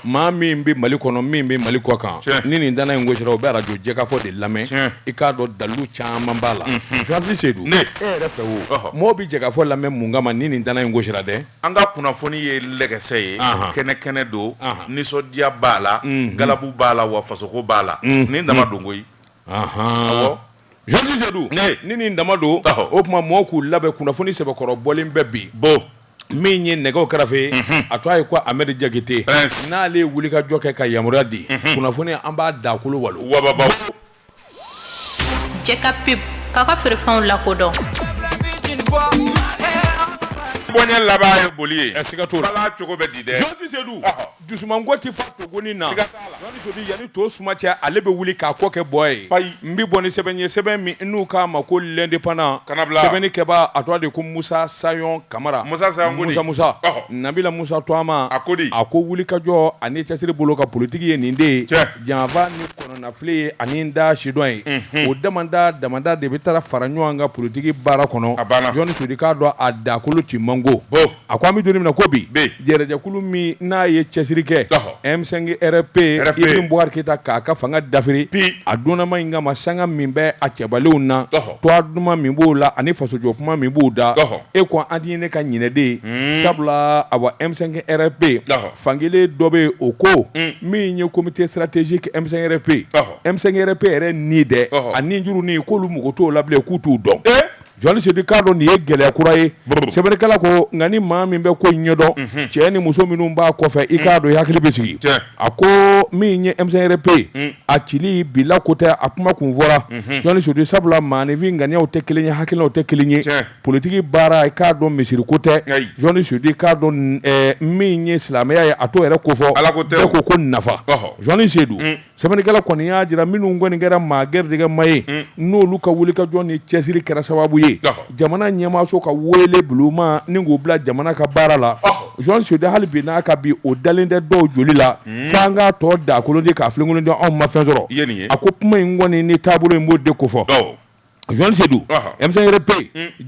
maa min bɛ mali kɔnɔ min bɛ mali kɔkan ni nin dana in gosira o bɛ arajo jɛkafɔ de lamɛn i k'a dɔn dalu caman b'a la Joyce Seydou e yɛrɛ fɛ o mɔgɔw bɛ jɛkafɔ lamɛn mun kama ni nin dana in gosira dɛ an ka kunnafoni ye lɛgɛsɛ ye kɛnɛ kɛnɛ don nisɔndiya b'a la galabu b'a la wa fasoko b'a la nin dama don koyi Joyce Seydou ni nin dama don o tuma mɔgɔw k'u labɛn kunnafoni sɛbɛkɔrɔ bɔlen bɛ bi bɔ min ye nɛgɛw kɛrɛfɛ a tɔgɔ ye ko Ahmed Jakite n'ale ye wulikajɔ kɛ ka yamaruya di kunnafoni an b'a dakolo walo Jɛka Pub k'a ka feerefɛnw lakodɔn bonya laban ye boli ye a sɛgɛ cogo bɛ di dɛ Dusumango tɛ fa togoni na Joyce Seydou yanni to suma cɛ ale bɛ wuli k'a kɔ kɛ bɔ ye n bɛ bɔ ni sɛbɛn ye sɛbɛn min n'u k'a ma ko L'Indépendant sɛbɛnnikɛba a tɔgɔ de ko musa sayɔn kamara musa musa nabila musa tɔgɔma a ko di a ko wulikajɔ ani cɛsiri bolo ka politigi ye nin de ye janfa ni kɔnɔnafili ye ani da sidɔn ye o damada damada de bɛ taa fara ɲɔgɔn kan politigi baara kɔnɔ a banna Joyce Seydou k'a dɔn a dakolo ci mango A ko an bɛ don min na ko bi jɛrɛjɛkulu min n'a ye cɛsiri kɛ M5-RFP Ibrahim Boubacar Keita k'a ka fanga dafiri bi a donnama in kama sanga min bɛ a cɛbalenw na tɔgɔ duman min b'u la ani fasojɔ kuma min b'u da e ko an ye ne ka ɲinɛ dɛ sabula awa M5-RFP fankelen dɔ bɛ yen o ko min ye comité stratégique M5-RFP M5-RFP yɛrɛ ni dɛ a ninjuru ni k'olu mago t'o la bilen k'u t'u dɔn Joyce Seydou i k'a dɔn nin ye gɛlɛya kura ye sɛbɛnnikɛla ko nka ni maa min bɛ ko ɲɛdɔn cɛ ni muso minnu b'a kɔfɛ i k'a dɔn i hakili bɛ sigi a ko min ye M5-RFP ye a ci bila ko tɛ a kuma kun fɔra Joyce Seydou sabula maaninfin ŋaniyaw tɛ kelen ye hakilinaw tɛ kelen ye politigi baara i k'a dɔn misiri ko tɛ Joyce Seydou i k'a dɔn min ye silamɛya ye a t'o yɛrɛ kofɔ ala ko tɛ bɛɛ ko ko nafa Joyce Seydou Sɛbɛnnikɛla kɔni y'a jira minnu kɔni kɛra maa gɛrɛjɛgɛma ye, un, n'olu ka wulikajɔ ni cɛsiri kɛra sababu ye, ɔhɔ, jamana ɲɛmaaso ka weele bulonma ni k'u bila jamana ka baara la, ɔhɔ, Joyce Seydou hali bi n'a ka bi o dalen tɛ dɔw joli la, un, f'an k'a tɔ dakolonci k'a filenkolonci anw ma fɛn sɔrɔ, i ye nin ye, a ko kuma in kɔni ni taabolo in b'o de kofɔ, awɔ. Joyce Seydou M5-RFP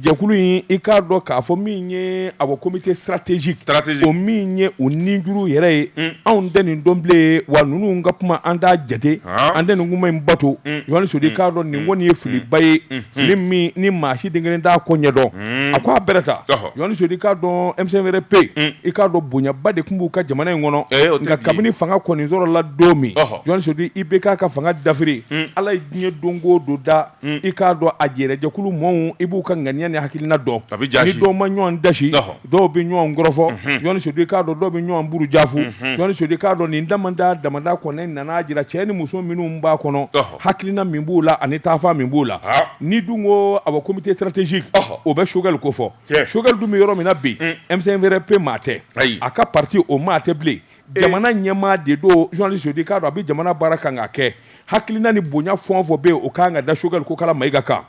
jɛkulu in i k'a dɔn k'a fɔ min ye awa comité stratégique o min ye o ninjuru yɛrɛ ye anw tɛ nin dɔn bilen wa ninnu ka kuma an t'a jate an tɛ nin kuma in bato Joyce Seydou i k'a dɔn nin kɔni ye filiba ye fili min ni maa si den kelen t'a ko ɲɛdɔn a ko a bɛrɛ ta Joyce Seydou i k'a dɔn M5-RFP i k'a dɔn bonyaba de tun b'u ka jamana in kɔnɔ nka kabini fanga kɔni sɔrɔla don min Joyce Seydou IBK ka fanga dafiri ala diɲɛ don o don da i k'a dɔn a yɛrɛ jɛkulu maaw i b'u ka ŋaniya ni hakilina dɔn ni dɔw ma ɲɔgɔn dasi dɔw bɛ ɲɔgɔn kɔrɔfɔ journaliste Seyidu i k'a dɔn dɔw bɛ ɲɔgɔn buruja fɔ journaliste Seyidu i k'a dɔn nin da da damada kɔnɔ ne nana jira cɛ ni muso minnu b'a kɔnɔ hakilina min b'u la ani taafa min b'u la ni dun ko awɔ comité stratégique o bɛ Choguel ko fɔ Choguel dun bɛ yɔrɔ min na bi M5 RFP maa tɛ a ka pati o maa tɛ bilen Jamana ɲɛmaa de don journaliste i k'a dɔn a bɛ jamana baara kan k'a kɛ hakilina ni bonya fɛn o fɛn bɛ yen o ka kan ka da Choguel Kokala Mayiga kan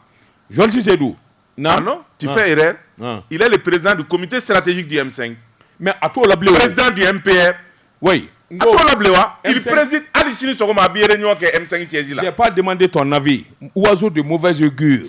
journaliste Seyidu non tu fais erreur ah. il est le président du comité stratégique du M5 mais a t'o la bilen président du MPR oui a t'o la bilen wa il préside hali sini sɔgɔma a bɛ réunion kɛ M5 siège la j'ai pas demandé ton avis oiseau de mauvaise augure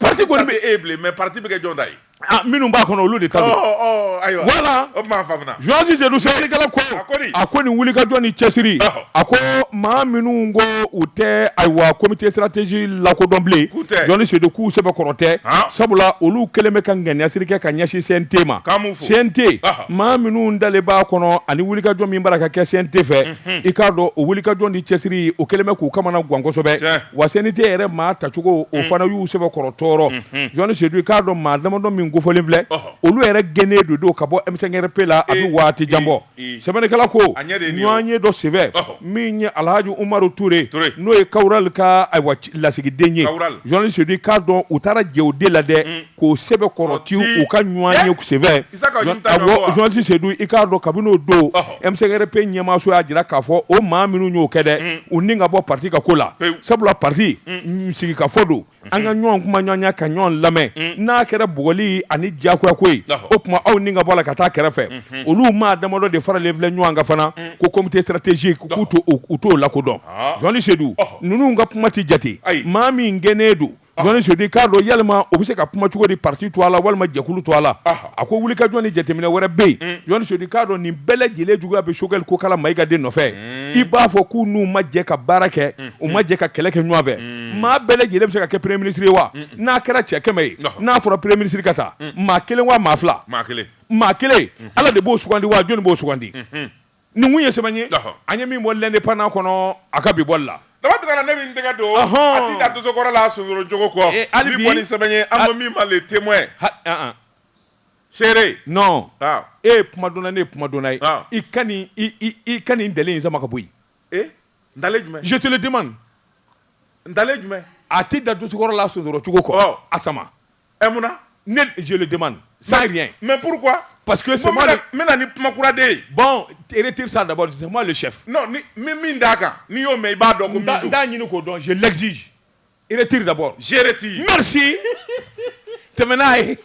Pasi kɔni bɛ e bilen mɛ pati bɛ kɛ jɔn ta ye minnu b'a kɔnɔ olu de ta don ayiwa voilà journaliste Seyidu sɛbɛnnikɛla ko a ko nin wulikajɔ ni cɛsiri a ko maa minnu ko u tɛ ayiwa comité stratégique lakodɔn bilen journaliste Seyidu k'u sɛbɛ kɔrɔ tɛ sabula olu kɛlen bɛ ka ŋaniyasiri kɛ ka ɲɛsin CNT ma CNT maa minnu talen b'a kɔnɔ ani wulikajɔ min b'a la ka kɛ CNT fɛ i k'a dɔn o wulikajɔ ni cɛsiri o kɛlen bɛ k'u kamanagan kosɛbɛ wa CNT yɛrɛ maa tacogo o fana y'u sɛbɛkɔrɔ tɔɔrɔ journaliste Seyidu i k'a dɔn maa damadɔ min kofɔlen filɛ olu yɛrɛ gɛnnen de don ka bɔ M5 RFP la a bɛ waati jan bɔ sɛbɛnnikɛla ko ɲɔgɔnye dɔ senfɛ min ye Alahaji Umaru Ture n'o ye Kawural ka ayiwa lasigiden ye journaliste Seyidu i k'a dɔn u taara jɛ o de la dɛ k'o sɛbɛn kɔrɔti u ka ɲɔgɔnye senfɛ journaliste Seyidu i k'a dɔn kabini o don M5 RFP ɲɛmaaso y'a jira k'a fɔ o maa minnu y'o kɛ dɛ mm. u ni ka bɔ pati ka ko la sabula pati mm. sigikafɔ don mm. an ka ɲɔgɔn kumaɲɔgɔnya ka ɲɔgɔn lamɛn n'a kɛra bugɔli ani diyagoya ko ye o tuma aw ni ka bɔ la ka taa kɛrɛfɛ mm-hmm. olu maa damadɔ de faralen filɛ ɲɔgɔn kan fana ko comité stratégique k'u u t'o lakodɔn journaliste Seyidu ninnu ka kuma tɛ jate maa min gɛnnen don Journaliste Seyidu k'a dɔn yalima o bɛ se ka kuma cogo di pati tɔgɔ la walima jɛkulu tɔgɔ la a ko wulikajɔ ni jateminɛ wɛrɛ bɛ yen journaliste Seyidu k'a dɔn nin bɛɛ lajɛlen juguya bɛ Choguel Kokala Mayiga de nɔfɛ i b'a fɔ k'u n'u ma jɛ ka baara kɛ u ma jɛ ka kɛlɛ kɛ ɲɔgɔn fɛ maa bɛɛ lajɛlen bɛ se ka kɛ premier ministre ye wa n'a kɛra cɛ kɛmɛ ye n'a fɔra premier ministre ka ta maa kelen waa maa fila maa kelen ala de b'o sugandi wa jɔnni b'o sugandi Nin kun ye sɛbɛn ye an ye min bɔ l'Indépendant kɔnɔ a ka bi bɔli la daba ne min tɛgɛ don a tɛ da dosokɔrɔ la sonsorocogo kɔ hali ni sɛbɛn ye an ko min ma Le Témoin seere non e ye kumadɔnna ne ye kumadɔnna ye i ka nin i ka nin ntalen in sama ka bɔ yen ntalen jumɛn je te le demande ntalen jumɛn a tɛ da dosokɔrɔ la sonsorocogo kɔ a sama Ɛ mun na ne je le demande sans rien mais pourquoi parce que c'est moi n bɛ na ni kuma kura de ye, bon retire ça d'abord c'est moi le chef, non n bɛ min d'a kan n'i y'o mɛn i b'a dɔn ko min don, n t'a ɲini k'o dɔn je l'exige retire d'abord je retire merci tɛmɛ n'a ye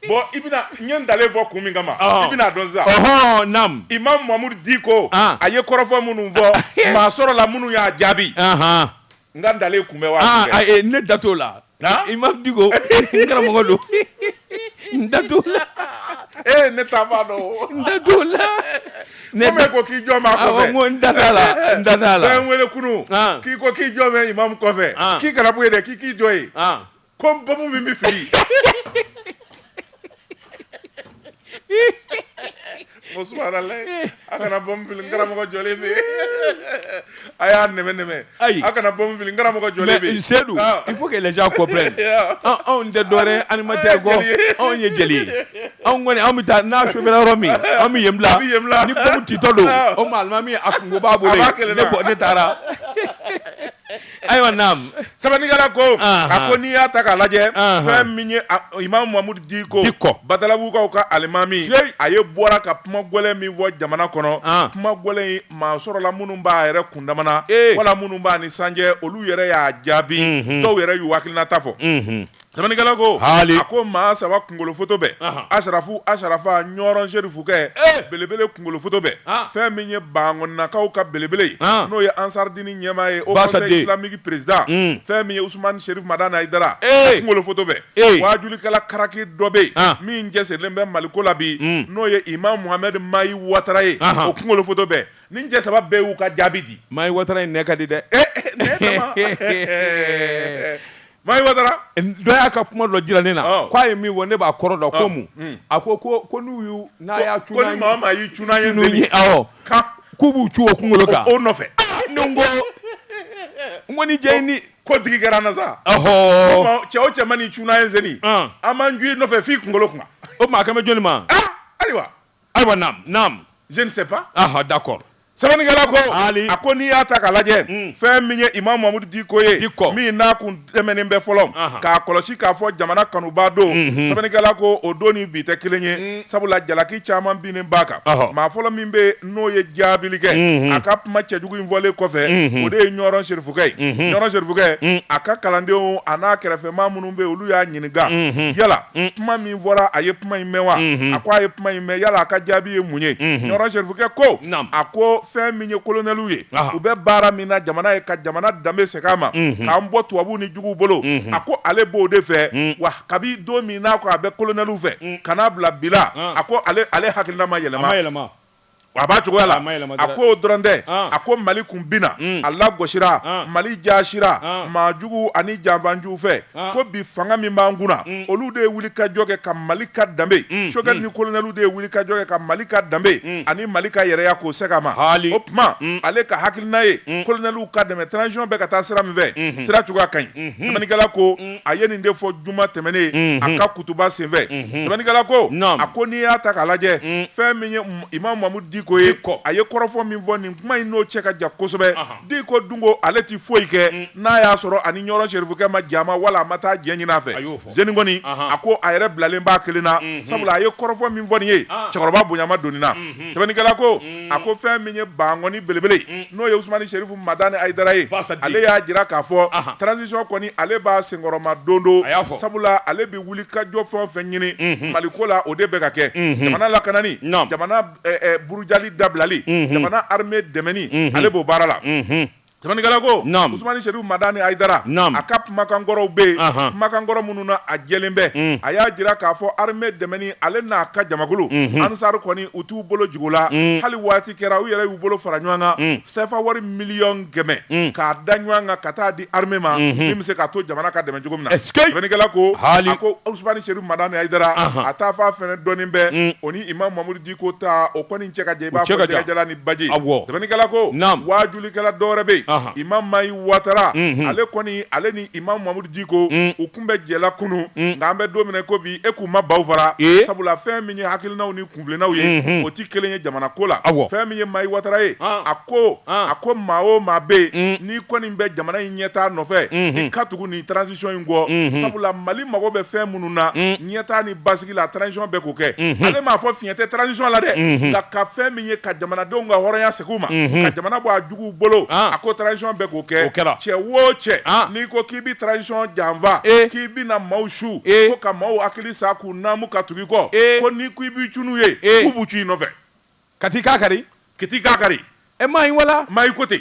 Bon i bɛna n ye ntalen fɔ kun min kama i bɛn'a dɔn sisan Imam Mamudu Diko a ye kɔrɔfɔ minnu fɔ maa sɔrɔla minnu y'a jaabi n ka ntalen kun bɛ wa ne da t'o la Imam Diko n karamɔgɔ don n da t'o la e ne t'a dɔn n da t'o la ne bɛ ko k'i jɔlen b'a kɔ n da t'a la n da t'a la n wele kunun k'i ko k'i jɔlen bɛ Imamu kɔfɛ k'i kana bɔ yen dɛ k'i k'i jɔ yen Ko bɔnmu min bɛ fili o a kana bɔfi karamɔgɔ jɔ a y'a nɛmɛ ayi a kana bɔfi karamɔgɔ jɔ seyidu i fo' lajɛ kɔ anw tɛ dɔɛrɛ anilima tɛ bɔ anw ye jeli ye anw kɔni an bɛ taa n'a su yɔrɔ min an bɛ yen bila ni titɔ don o maa min a kun b'a bolo ne taara ayiwa naam sɛbɛnnikɛla ko Anhan. a ko n'i y'a ta k'a lajɛ Anhan. fɛn min ye a- imamu mamudu diko Dicko. badalabukaw ka alimami Siyei. a ye bɔra ka kuma gɛlɛn min fɔ jamana kɔnɔ An. kuma gɛlɛn in maa sɔrɔla minnu b'a yɛrɛ kundama na Ee. wala minnu b'a ni san cɛ olu yɛrɛ y'a jaabi Mhm. dɔw yɛrɛ y'u hakilinata fɔ Mhm. Sɛbɛnnikɛla ko, haali, a ko maa saba kunkolo foto bɛɛ, anhan, Asarafu, Asarafa, Ɲɔrɔn Serifukɛ, ee, belebele kunkolo foto bɛɛ, han, fɛn min ye Bankɔninakaw ka belebele ye, han, n'o ye Ansaridini ɲɛmaa ye, Haut conseil islamique président un, fɛn min ye Usumani Serifu Madani Ayidara, ee, a kunkolo foto bɛɛ, ee, waajulikɛla karaki dɔ bɛ yen, an, min cɛsirilen bɛ Maliko la bi, un, n'o ye Imam Mohamɛdi Mayi Watara ye, anhan, o kunkolo foto bɛɛ, nin cɛ saba bɛɛ y'u ka jaabi di. Mayi Watara in nɛn ka di dɛ. Ee, ee, nɛn dama, ee, ee, ee. Mahi Watara, dɔ y'a ka kuma dɔ jira ne na, ɔɔ, k'a ye min fɔ ne b'a kɔrɔ dɔn, ɔɔ, ko mun? Un, a ko ko ko n'u y'u n'a y'a cun, ko ni maa o maa y'i cun n'a ye n'seli, n'seli, awɔ, ka k'u b'u cun o kunkolo kan, o nɔfɛ, aa, ne ko n ko ni diya ni ko digi kɛra an na sa, ɔhɔɔ, cɛ o cɛ man'i cun n'a ye n'seli, ɔn, an b'an cun i nɔfɛ f'i kunkolo kunna, o tuma a kan bɛ jɔnni ma? Aa, ayiwa. Ayiwa naamu naamu je ne sais pas aha d'accord sɛbɛnnikɛla ko Ali. a ko n'i y'a ta k'a lajɛ fɛn min ye Imam Mamudu Diko ye Dicko. min n'a kun tɛmɛnen bɛ fɔlɔ Ahan. k'a kɔlɔsi k'a fɔ jamana kanubaa don sɛbɛnnikɛla ko o don ni bi tɛ kelen ye sabula jalaki caman binnen b'a kan Ɔhɔ. maa fɔlɔ min bɛ yen n'o ye jaabili kɛ a ka kuma cɛjugu in fɔlen kɔfɛ o de ye ɲɔrɔn serifukɛ ye ɲɔrɔn serifukɛ a ka kalandenw a n'a kɛrɛfɛmaa minnu bɛ yen olu y'a ɲininka yala Mm. kuma min fɔra a ye kuma in mɛn wa mm-hmm. a ko a ye kuma in mɛn yala a ka jaabi ye mun ye mm-hmm. ɲɔrɔ serifukɛ ko a ko fɛn min ye kolonɛliw ye u bɛ baara min na jamana ye ka jamana danbe segin a ma mm-hmm. k'an bɔ tubabuw ni juguw bolo a ko ale b'o de fɛ mm. wa kabi don min n'a ko a bɛ kolonɛliw fɛ mm. ka n'a bila bila a ko ale hakilina ma yɛlɛma A b'a cogoya la a ko dɔrɔn tɛ a ko mali kun binna a lagosira mali jaasira maa jugu ani janfanjugu fɛ ko bi fanga min b'an kunna olu de ye wuli ka jɔ kɛ ka mali ka danbe Choguel ni kolonɛliw de ye wuli ka jɔ kɛ ka mali ka danbe ani mali ka yɛrɛya k'o segin a ma o tuma ale ka hakilina ye kolonɛliw ka dɛmɛ transition bɛ ka taa sira min fɛ sira cogoya ka ɲi sɛbɛnnikɛla ko a ye nin de fɔ juma tɛmɛnen a ka kutuba senfɛ sɛbɛnnikɛla ko a ko n'i y'a ta k'a lajɛ fɛn min ye imamu mamudu diko ye kɔ a ye kɔrɔfɔ min fɔ nin kuma in n'o cɛ ka jan kosɛbɛ diko dun ko ale tɛ foyi kɛ n'a y'a sɔrɔ a ni ɲɔrɔ serifukɛ ma jɛ a ma wala a ma taa jɛ ɲini a fɛ sen kɔni a ko a yɛrɛ bilalen b'a kelen na sabula a ye kɔrɔfɔ min fɔ nin ye cɛkɔrɔba bonya ma don nin na sɛbɛnnikɛla ko a ko fɛn min ye bankɔni belebele n'o ye Usumani Serifu Madani Ayidara ye ale y'a jira k'a fɔ transition kɔni ale b'a senkɔrɔma don don sabula ale bɛ wuli ka jɔ fɛn o fɛn ɲini Mali ko la o de bɛ ka kɛ jamana lakanani jamana burujali dabilali jamana armée dɛmɛni ale b'o baara la. Sɛbɛnnikɛla ko, naamu, Usumani Serifu Madani Ayidara, naamu, a ka kumakan kɔrɔw bɛ yen, anhan, kumakan kɔrɔ minnu na a jɛlen bɛ, un, a y'a jira k'a fɔ armee dɛmɛni ale n'a ka jamakulu, unhun, Ansar kɔni u t'u bolo jigin o la, un, hali waati kɛra u yɛrɛ y'u bolo fara ɲɔgɔn kan, un, CFA wari miliyɔn kɛmɛ, un, k'a da ɲɔgɔn kan ka taa di armee ma, unhun, min bɛ se k'a to jamana ka dɛmɛ cogo min na, ɛsikei, sɛbɛnnikɛla ko, haali, a ko Usumani Serifu Madani Ayidara, anhan, a taafan fɛnɛ dɔnnen bɛ, un, o ni Imamu Mamudu Diko ko ta o kɔni cɛ ka jan i b'a fɔ jɛgɛjalan ni baji sɛbɛnnikɛla ko waajulikɛla dɔwɛrɛ bɛ yen Imam Mahi Watara ale kɔni ale ni Imam Mahamudu Diko u kun bɛ jɛ la kunun nka an bɛ don min na i ko bi e k'u ma baw fara sabula fɛn min ye hakilinaw ni kuntilennaw ye o tɛ kelen ye jamana ko la fɛn min ye Mahi Watara ye a ko a ko maa o maa bɛ yen n'i kɔni bɛ jamana in ɲɛtaa nɔfɛ i ka tugu nin transition in kɔ sabula Mali mago bɛ fɛn minnu na ɲɛtaa ni basigi la transition bɛ k'o kɛ, unhun, ale m'a fɔ fiɲɛ tɛ transition la dɛ, unhun, nka ka fɛn min ye ka jamanadenw ka hɔrɔnya segin u ma, unhun, ka jamana bɔ a juguw bolo, an, a ko transition bɛ k'o kɛ, o kɛra, cɛ o cɛ, an, n'i ko k'i bɛ transition janfa, ee, k'i bɛna maaw su, ee, ko ka maaw hakili sa k'u naamu ka tugu i kɔ, ee, ko n'i ko i b'i cun n'u ye, ee, k'u b'u cun i nɔfɛ. Ka t'i k'a kari. Ka t'i k'a kari. E Mahi wala? Mahi ko ten.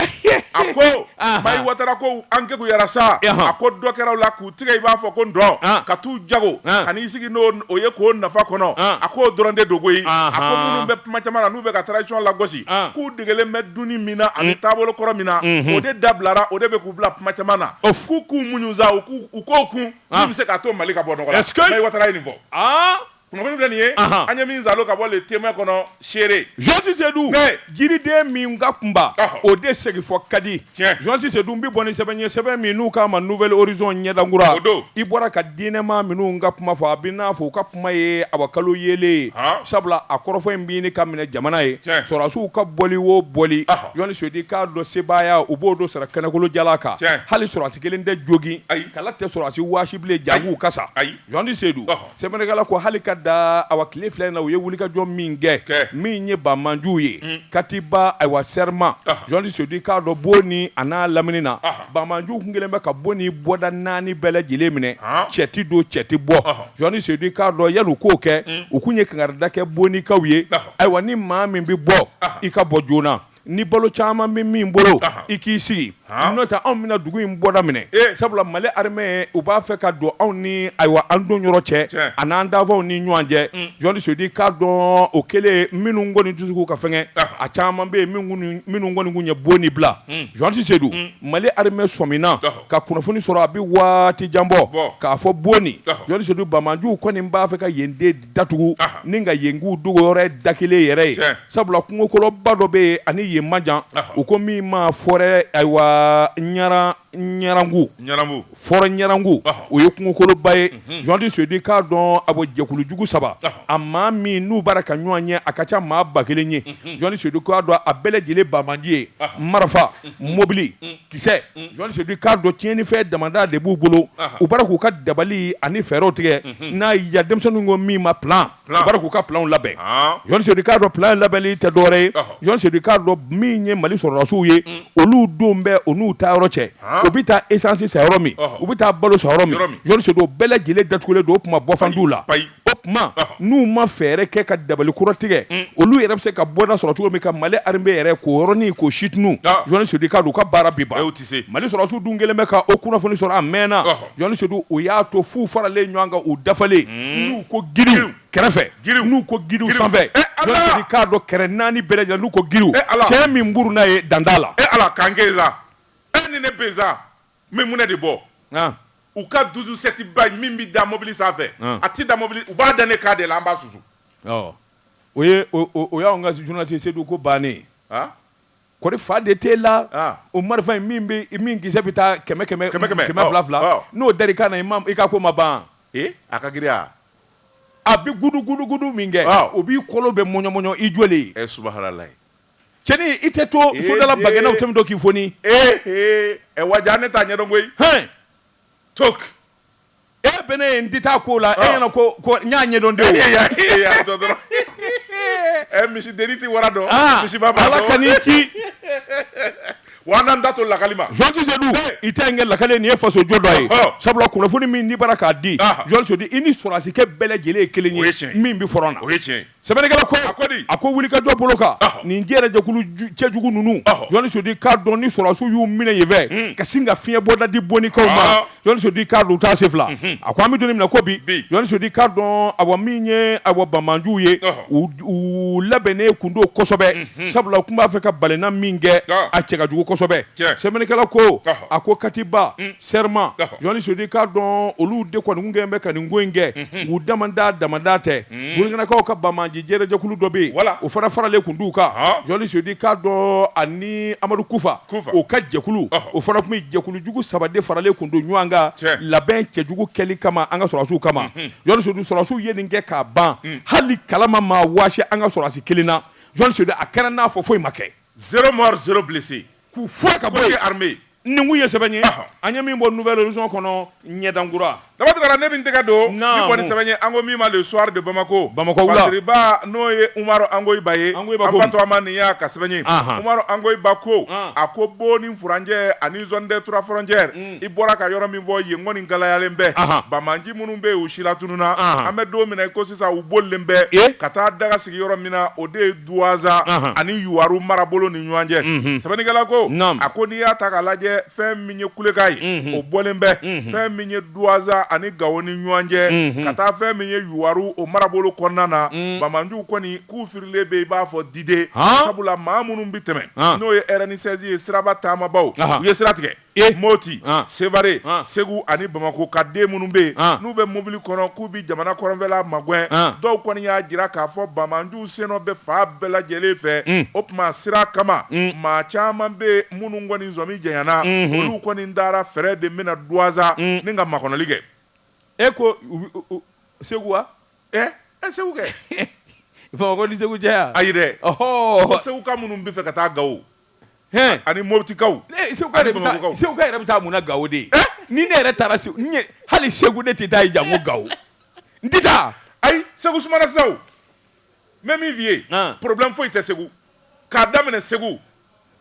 A ko. Anhan. Mahi Watara ko an kekuyara sa. Ɔnhɔn. A ko dɔ kɛra u la k'u tigɛ i b'a fɔ ko ndɔn. An. Ka t'u jago. An. Ka n'i sigi n'o o ye k'o nafa kɔnɔ. An. A k'o dɔrɔn de don koyi. Anhan. A ko minnu bɛ kuma caman na n'u bɛ ka transition lagosi. An. K'u degelen bɛ dunni min na ani taabolo kɔrɔ min na. Unhun. O de dabilara, o de bɛ k'u bila kuma caman na. Of. K'u k'u muɲu sa, u k'o kun. An. Min bɛ se k'a to Mali ka bɔ nɔgɔ la. Est ce que. Mahi Watara ye nin fɔ. Aa! Kunnafoni filɛ nin ye, anhan, an ye min zalo ka bɔ le Témoin kɔnɔ seere, journaliste Sedu, oui, jiriden min ka kunba, ɔhɔ, o de segi fa ka di, tiɲɛ, journaliste Sedu n bɛ bɔ ni sɛbɛn ye sɛbɛn min n'u k'a ma Nouvel Horizon ɲɛdankura, o don, i bɔra ka diinɛmaa minnu ka kuma fɔ a b'i n'a fɔ u ka kuma ye abakalo yeelen ye, han, sabula a kɔrɔfɔ in bɛ ɲini ka minɛ jamana ye, tiɲɛ, sɔrɔdasiw ka bɔli o bɔli, ɔhɔ, journaliste Sedu i k'a dɔn sebaaya u b'o don sara kɛnɛkolo jalan kan, tiɲɛ, hali sɔrɔdasi kelen tɛ jogin, ayi, kala tɛ sɔrɔdasi waasi bilen janko u ka sa, ayi. Journaliste Sedu sɛbɛnnikɛla ko hali ka da awa tile fila in na u ye wulikajɔ min kɛ min ye banbaanciw ye Katiba ayiwa Serima journaliste Sedu k'a dɔn Boni a n'a lamini na banbaanciw tun kɛlen bɛ ka Boni bɔda naani bɛɛ lajɛlen minɛ cɛ tɛ don cɛ tɛ bɔ journaliste Sedu k'a dɔn yanni u k'o kɛ u tun ye kankarida kɛ Bonikaw ye ayiwa ni maa min bɛ bɔ i ka bɔ joona Ni balo caman bɛ min bolo i k'i sigi n'o tɛ anw bɛna dugu in bɔda minɛ sabula Mali armée u b'a fɛ ka don anw ni ayiwa an don yɔrɔ cɛ ani an dafaw ni ɲɔgɔn cɛ journaliste Sedu k'a dɔn o kɛlen minnu kɔni dusukun ka fɛgɛn a caman bɛ yen minnu kɔni kun ye Boni bila journaliste Sedu Mali armée sɔmina ka kunnafoni sɔrɔ a bɛ waati jan bɔ k'a fɔ Boni journaliste Sedu banbaanciw kɔni b'a fɛ ka yen de datugu ni ka yen k'u dogo yɔrɔ da kelen yɛrɛ ye sabula kungokoloba dɔ bɛ yen ani yen man jan u ko min ma forêt ayiwa Ɲarangu forêt Ɲarangu o ye kungokoloba ye journaliste Sedu k'a dɔn a jɛkulujugu saba a maa min n'u bara ka ɲɔgɔn ye a ka ca maa ba kelen ye journaliste Sedu k'a dɔn a bɛɛ lajɛlen banbaanci ye marifa mɔbili Kisɛ journaliste Sedu k'a dɔn tiɲɛnifɛn damada de b'u bolo u bara k'u ka dabali ani fɛɛrɛw tigɛ n'a ya denmisɛnw ko min ma plan u bara k'u ka planw labɛn journaliste Sedu k'a dɔn plan labɛnli tɛ dɔwɛrɛ ye journaliste Sedu k'a dɔn min ye Mali sɔrɔdasiw ye olu don bɛ u n'u taa yɔrɔ cɛ u bɛ taa esansi san yɔrɔ min u bɛ taa balo san yɔrɔ min journaliste Sedu o bɛɛ lajɛlen datugulen don o tuma bɔfan' la o tuma n'u ma fɛɛrɛ kɛ ka dabali kura tigɛ mm. olu yɛrɛ bɛ se ka bɔda sɔrɔ cogo min ka Mali armée yɛrɛ k'o yɔrɔnin k'o situnu ah. journaliste Sedu k'a dɔn u ka baara bi ban Mali sɔrɔdasiw dun kɛlen bɛ ka o kunnafoni sɔrɔ a mɛnna journaliste Sedu o y'a to f'u faralen ɲɔgɔn kan u dafalen mm. n'u ko giriw kɛrɛfɛ giriw n'u ko giriw sanfɛ eh, journaliste Sedu k'a dɔn kɛrɛ naani bɛɛ lajɛlen n'u ko giriw eh, cɛ min buruna ye danda la e eh, Ala k'an kɛ sa e ni ne bɛ sa N bɛ mun de bɔ u ka douze-sept ba min bɛ da mobili sanfɛ a tɛ da mobili u b'a da ne k'a de la an b'a susu o ye o y'an ka journaliste Seydou ko bannen kɔri fa de t'e la o marifa in min kisɛ bɛ taa kɛmɛ fila fila n'o dar'i kan n'i ka ko ma ban a ka girinya a bɛ gudugudugudu min kɛ o b'i kolo bɛɛ mɔɲɔmɔɲɔ i jɔlen subahanala cɛnin i tɛ to Ee, sodala den. bagɛnnaw tɛmɛ to k'i foni ee ee ɛ waja ne t'a ɲɛdɔn koyi hɛn tok e bɛ ne ye n tɛ taa ko la e Ɔ. ɲɛna ko ko n y'a ɲɛdɔn de o ee ya ee ya dɔ dɔrɔn ɛ misi deni tɛ wara dɔn Ah, misi ba b'a dɔn Ala kan'i ci wa an n'an da to lakali ma journaliste Seydou i tɛ n kɛ lakale nin ye fasojɔ dɔ ye Ɔhɔ. sabula kunnafoni min n'i bara k'a di Aha. journaliste Seydou i ni sɔrɔdasikɛ bɛɛ lajɛlen ye kelen ye O ye tiɲɛ ye. min bɛ front na o ye tiɲɛ ye Sɛbɛnnikɛla ko, a ko di? A ko wulikajɔ bolo kan, ɔhɔ, nin jɛrɛjɛkulu cɛjugu ninnu, ɔhɔ, journaliste Seydou k'a dɔn ni sɔrɔdasiw y'u minɛ yen fɛ, un, ka sin ka fiɲɛbɔda di Bonikaw ma, ɔɔ, journaliste Seydou k'a dɔn u t'a senfila, unhun, a ko an bɛ don min na ko bi, bi, journaliste Seydou k'a dɔn awa min ye awa banbaanciw ye, ɔhɔ, u u labɛnnen tun don kosɛbɛ, unhun, sabula u tun b'a fɛ ka balenna min kɛ, ɔɔ, a cɛ ka jugu kosɛbɛ, tiɲɛ, Sɛbɛnnikɛla ko, ɔhɔ, a ko Katiba, un, Serma, ɔhɔ, journaliste Seydou k'a dɔn olu de kɔni tun kɛlen bɛ ka nin ko in kɛ, unhun, u damanda damanda tɛ. burukinakaw ka banbaanci jɛrɛjɛkulu dɔ bɛ yen Voilà. o fana faralen tun d'u kan Ɔhɔ. journaliste Seydou k'a dɔn ani Amadu Kufa Kufa. o ka jɛkulu Ɔhɔ. o fana tun bɛ jɛkulu jugu saba de faralen tun don ɲɔgɔn kan Tiɲɛ. labɛn cɛjugu kɛli kama an ka sɔrɔdasiw kama journaliste Seydou sɔrɔdasiw ye nin kɛ k'a ban hali kalama ma waasi an ka sɔrɔdasi kelen na journaliste Seydou a kɛra n'a fɔ foyi ma kɛ Zéro mort, zéro blessé k'u fɔ ka bɔ armée nin kun ye sɛbɛn ye an ye min bɔ Nouvel Horizon kɔnɔ ɲɛdankura Daba Tunkara ne bɛ n tɛgɛ don min kɔni sɛbɛn ye an ko min ma Le Soir de Bamako Bamako wula masiriba n'o ye Umaru Angoyiba ye an fa tɔgɔma nin y'a ka sɛbɛn ye Umaru Angoyiba ko a ko Boni furancɛ ani zone des trois frontières i bɔra ka yɔrɔ min fɔ yen kɔni galayalen bɛ banbaanci minnu bɛ yen u silatununna an bɛ don min na i ko sisan u bolilen bɛ ka taa daga sigi yɔrɔ min na o de ye Duwanza ani Yuwaru marabolo ni ɲɔgɔn cɛ, unhun, sɛbɛnnikɛla ko, naamu, a ko n'i y'a ta k'a lajɛ fɛn min ye kulekan ye, unhun, o bɔlen bɛ, unhun, fɛn min ye Duwanza ani Gawo ni ɲɔgɔn cɛ, unhun, ka taa fɛn min ye Yuwaru o marabolo kɔnɔna na, un, banbaanciw kɔni k'u firilen bɛ i b'a fɔ diden, han, sabula maa minnu bɛ tɛmɛn, han, n'o ye RN16 ye siraba taamabaaw, anhan, u ye sira tigɛ. e moti ah. sevare ah. segu ani bamakɔ ka den minnu bɛ yen ah. n'u bɛ mobili kɔnɔ k'u bɛ jamana kɔrɔnfɛla magwɛn dɔw kɔni y'a jira k'a fɔ banbaanciw sennɔ bɛ fan bɛɛ lajɛlen fɛ mm. o tuma sira kama mm. maa caman bɛ minnu kɔni sɔmi janyana mm-hmm. olu kɔni dara fɛɛrɛ de bɛna Duwanza mm. ni ka makɔnɔli kɛ e ko segu wa ɛ eh, ɛ eh, segu kɛ bamakɔ ni segu cɛ ya ayi dɛ ɔhɔ Segukaw minnu b'a fɛ ka taa gawo ani motikaw seguka yɛrɛ bɛ taa mun na gawo de ni ne yɛrɛ taara segu hali segu ne tɛ taa yen janko gawo n tɛ taa ayi segu sumana sisan n bɛ min f'i ye problème foyi tɛ segu k'a daminɛ segu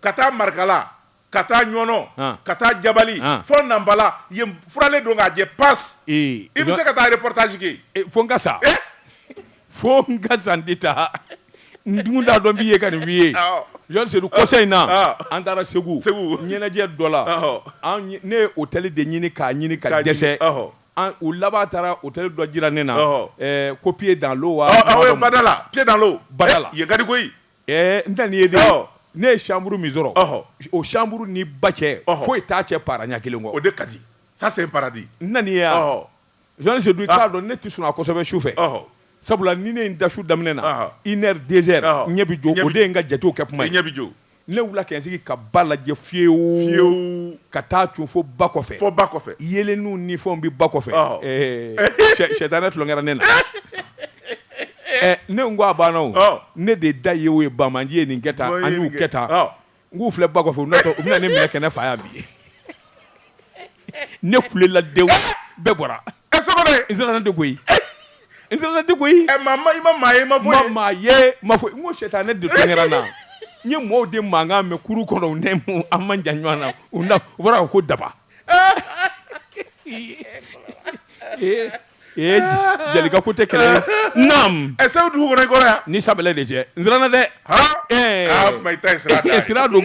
ka taa marikala ka taa ɲɔnɔ ka taa jabali fo nanpala yen furalen don k'a jɛ pasi i bɛ se ka taa reportage kɛ fo n ka sa fo n ka sa n tɛ taa n dun t'a dɔn n b'i ye ka nin f'i ye Jɔn Sedu kɔsa in na an taara Segu ɲɛnajɛ dɔ la ne ye hôtel de ɲini k'a ɲini ka dɛsɛ u laban taara hôtel dɔ jira ne na ko pied dans l'eau wa badala pied dans l'eau badala yen ka di koyi n tɛ nin ye dɛ ne ye chambre min sɔrɔ o chambre ni ba cɛ foyi t'a cɛ para ɲɛ kelen kɔ o de ka di ça c'est un paradis n na n'i ye wa. Jean Sedu i k'a ah. dɔn ne tɛ sunɔgɔ kosɛbɛ su fɛ sabula ni ne ye n da su daminɛ na ah. une heure deux heures ah. ɲɛ bɛ jɔ o de ye n ka jatew kɛ tuma ye ɲɛ bɛ jɔ ne wulila ka n sigi ka ba lajɛ fiyewu fiyewu ka taa cun fo ba kɔfɛ fo ba kɔfɛ yeelenniw ni fɛnw bɛ ba kɔfɛ sɛtanɛ tulonkɛra ne na ne ko a banna o ne de da ye o ye banbaanciw ye nin kɛ tan an y'u kɛ tan N k'u filɛ ba kɔfɛ u natɔ u bɛna ne minɛ ka ne faa yan bi ne kulela dewu bɛɛ bɔra ɛ sɔgɔbɛ n siranna de koyi n siranna de koyi ɛ maa ma i ma maa ye ma fɔ maa ye ma fɔ n ko sɛtanɛ de tulonkɛra n na n ye mɔgɔw de mankan mɛn kuru kɔnɔ u ni an man jan ɲɔgɔn na u u fɔra ko daba Jelikɛ ko tɛ kɛlɛ ɛsa dugu kɔnɔ kɔrɔ yan ni saba de cɛ n siranna dɛ sira don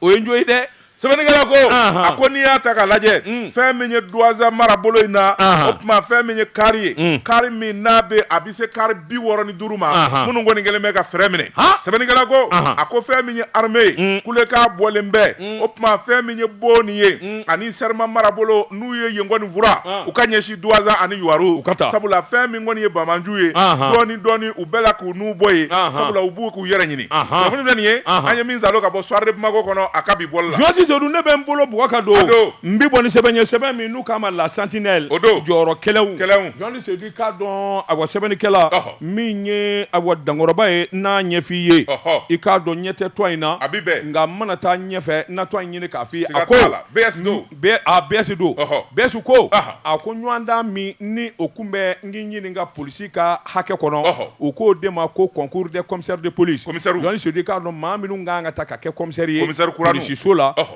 o ye n jo ye dɛ sɛbɛnnikɛla ko a ko n'i y'a ta k'a lajɛ fɛn min ye Duwanza mara bolo in na o tuma fɛn min ye kari ye kari min n'a bɛ se kari bi wɔɔrɔ ni duuru ma minnu kɔni kɛlen bɛ ka fɛrɛ minɛ sɛbɛnnikɛla ko a ko fɛn min ye armée ye mm. kulekan bɔlen bɛ mm. o tuma fɛn min ye Boni ye mm. ani Sɛrɛma mara bolo n'u ye yen kɔni fura ah. u ka ɲɛsin Duwanza ani Yuwaru ka taa sabula fɛn min kɔni ye banbaanciw ye dɔɔni dɔɔni u bɛɛ la k'u nun bɔ yen sabula u b'u k'u yɛrɛ ɲini kunnafoni filɛ nin ye an ye min salo ka bɔ Soir de Bamako kɔnɔ a ka bi bɔli la Jɔni Sedu ne bɛ n bolo bɔ ka don n bɛ bɔ ni sɛbɛn ye sɛbɛn min n'u k'a ma La Sentinelle o don jɔyɔrɔ kɛlɛ K'a dɔn awa sɛbɛnnikɛla, ɔhɔ, min ye awa dankɔrɔba ye n'a ɲɛfɔ i ye, ɔhɔ, i k'a dɔn ɲɛ tɛ tɔgɔ in na, a bɛ bɛn, nka n mana taa ɲɛfɛ n na tɔgɔ in ɲini k'a fɔ i ye, a ko, siga t'a la, BS don, a BS don, ɔhɔ, BS ko, ɔhɔ, a ko ɲɔgɔndan min ni o tun bɛ n k'i ɲini ka polisi ka hakɛ kɔnɔ, ɔhɔ, u k'o de ma ko concours des commissaires de police, komisɛriw, Jɔni Sido, i k'a dɔn maa minnu ka kan ka ta ka kɛ komisɛri ye, komisɛri kura ninw, polisiso la, ɔhɔ.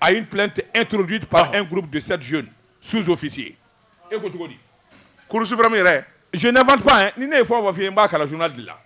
à une plainte introduite par ah. un groupe de sept jeunes sous-officiers. E ko cogo di? Cour suprême yɛrɛ. Je n'invente pas hein. Ni ne ye fɛn o fɛn f'i ye n b'a kalan journal de la.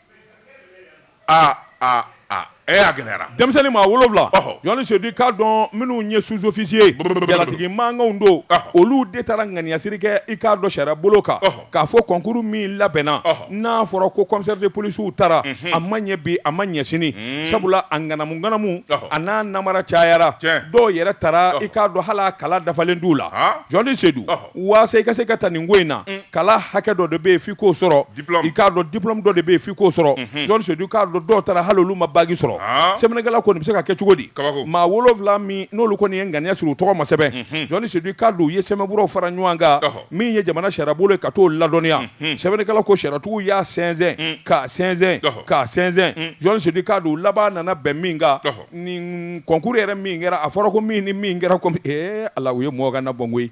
Ah ah ah. Eh a gɛlɛyara. Denmisɛnnin maa wolonwula. Ɔhɔ. Journaliste Sedu k'a dɔn minnu ye sous-officiers. Jalatigi mankanw don. Ɔhɔ. Olu de taara ŋaniyasiri kɛ i k'a dɔn sariya bolo kan. Ɔhɔ. k'a fɔ concours min labɛnna n'a fɔra ko commissaire de police tara a ma ɲɛ bi a ma ɲɛ sini sabula a ŋanamu ŋanamu a n'a namara cayara dɔw yɛrɛ tara i k'a dɔn hali kalan dafalen t'u la journaliste Sedu waasa i ka se ka taa nin ko in na kalan hakɛ dɔ de bɛ yen f'i k'o sɔrɔ i k'a dɔn diplôme dɔ de bɛ yen f'i k'o sɔrɔ journaliste Sedu k'a dɔn dɔw tara hali olu ma baki sɔrɔ sɛbɛnnikɛla ko nin bɛ se ka kɛ cogo di maa wolonwula min n'olu kɔni ye ŋaniya siri u tɔgɔ ma sɛbɛn journaliste Sedu k'a dɔn u ye sɛbɛnfuraw fara ɲɔgɔn kan min ye jamana sariyabolo ye ka t'o ladɔnniya sɛbɛnnikɛla ko sariyatigiw y'a sɛnsɛn k'a sɛnsɛn k'a sɛnsɛn journaliste Sedu k'a dɔn laban nana bɛn min kan nin concours yɛrɛ min kɛra a fɔra ko min ni min kɛra kɔmi ala u ye mɔgɔ ka na bɔn koyi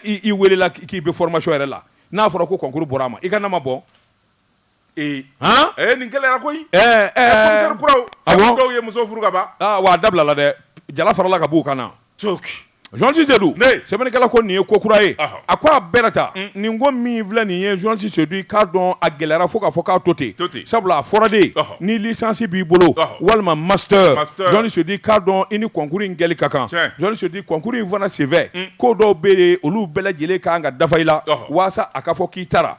i weelela k'i bɛ formation yɛrɛ la n'a fɔra ko concours bɔra a ma i ka na ma bɔn Ee han ee nin gɛlɛyara koyi ɛɛ ɛɛ commissaire kuraw awɔ fɔ dɔw ye muso furu kaban aa wa a dabilala dɛ jala farala ka b'u kan na cooki journaliste Sedu ne sɛbɛnnikɛla ko nin ye ko kura ye ɔhɔ a ko a bɛɛ na ta un nin ko min filɛ nin ye journaliste Sedu i k'a dɔn a gɛlɛyara fo k'a fɔ k'a to ten to ten sabula a fɔra de ɔhɔ ni licence b'i bolo ɔhɔ walima master master journaliste Sedu i k'a dɔn i ni concours in kɛli ka kan tiɲɛ journaliste Sedu concours in fana senfɛ un ko dɔw bɛ yen olu bɛɛ lajɛlen ka kan ka dafa i la ɔhɔ waasa a ka fɔ k'i tara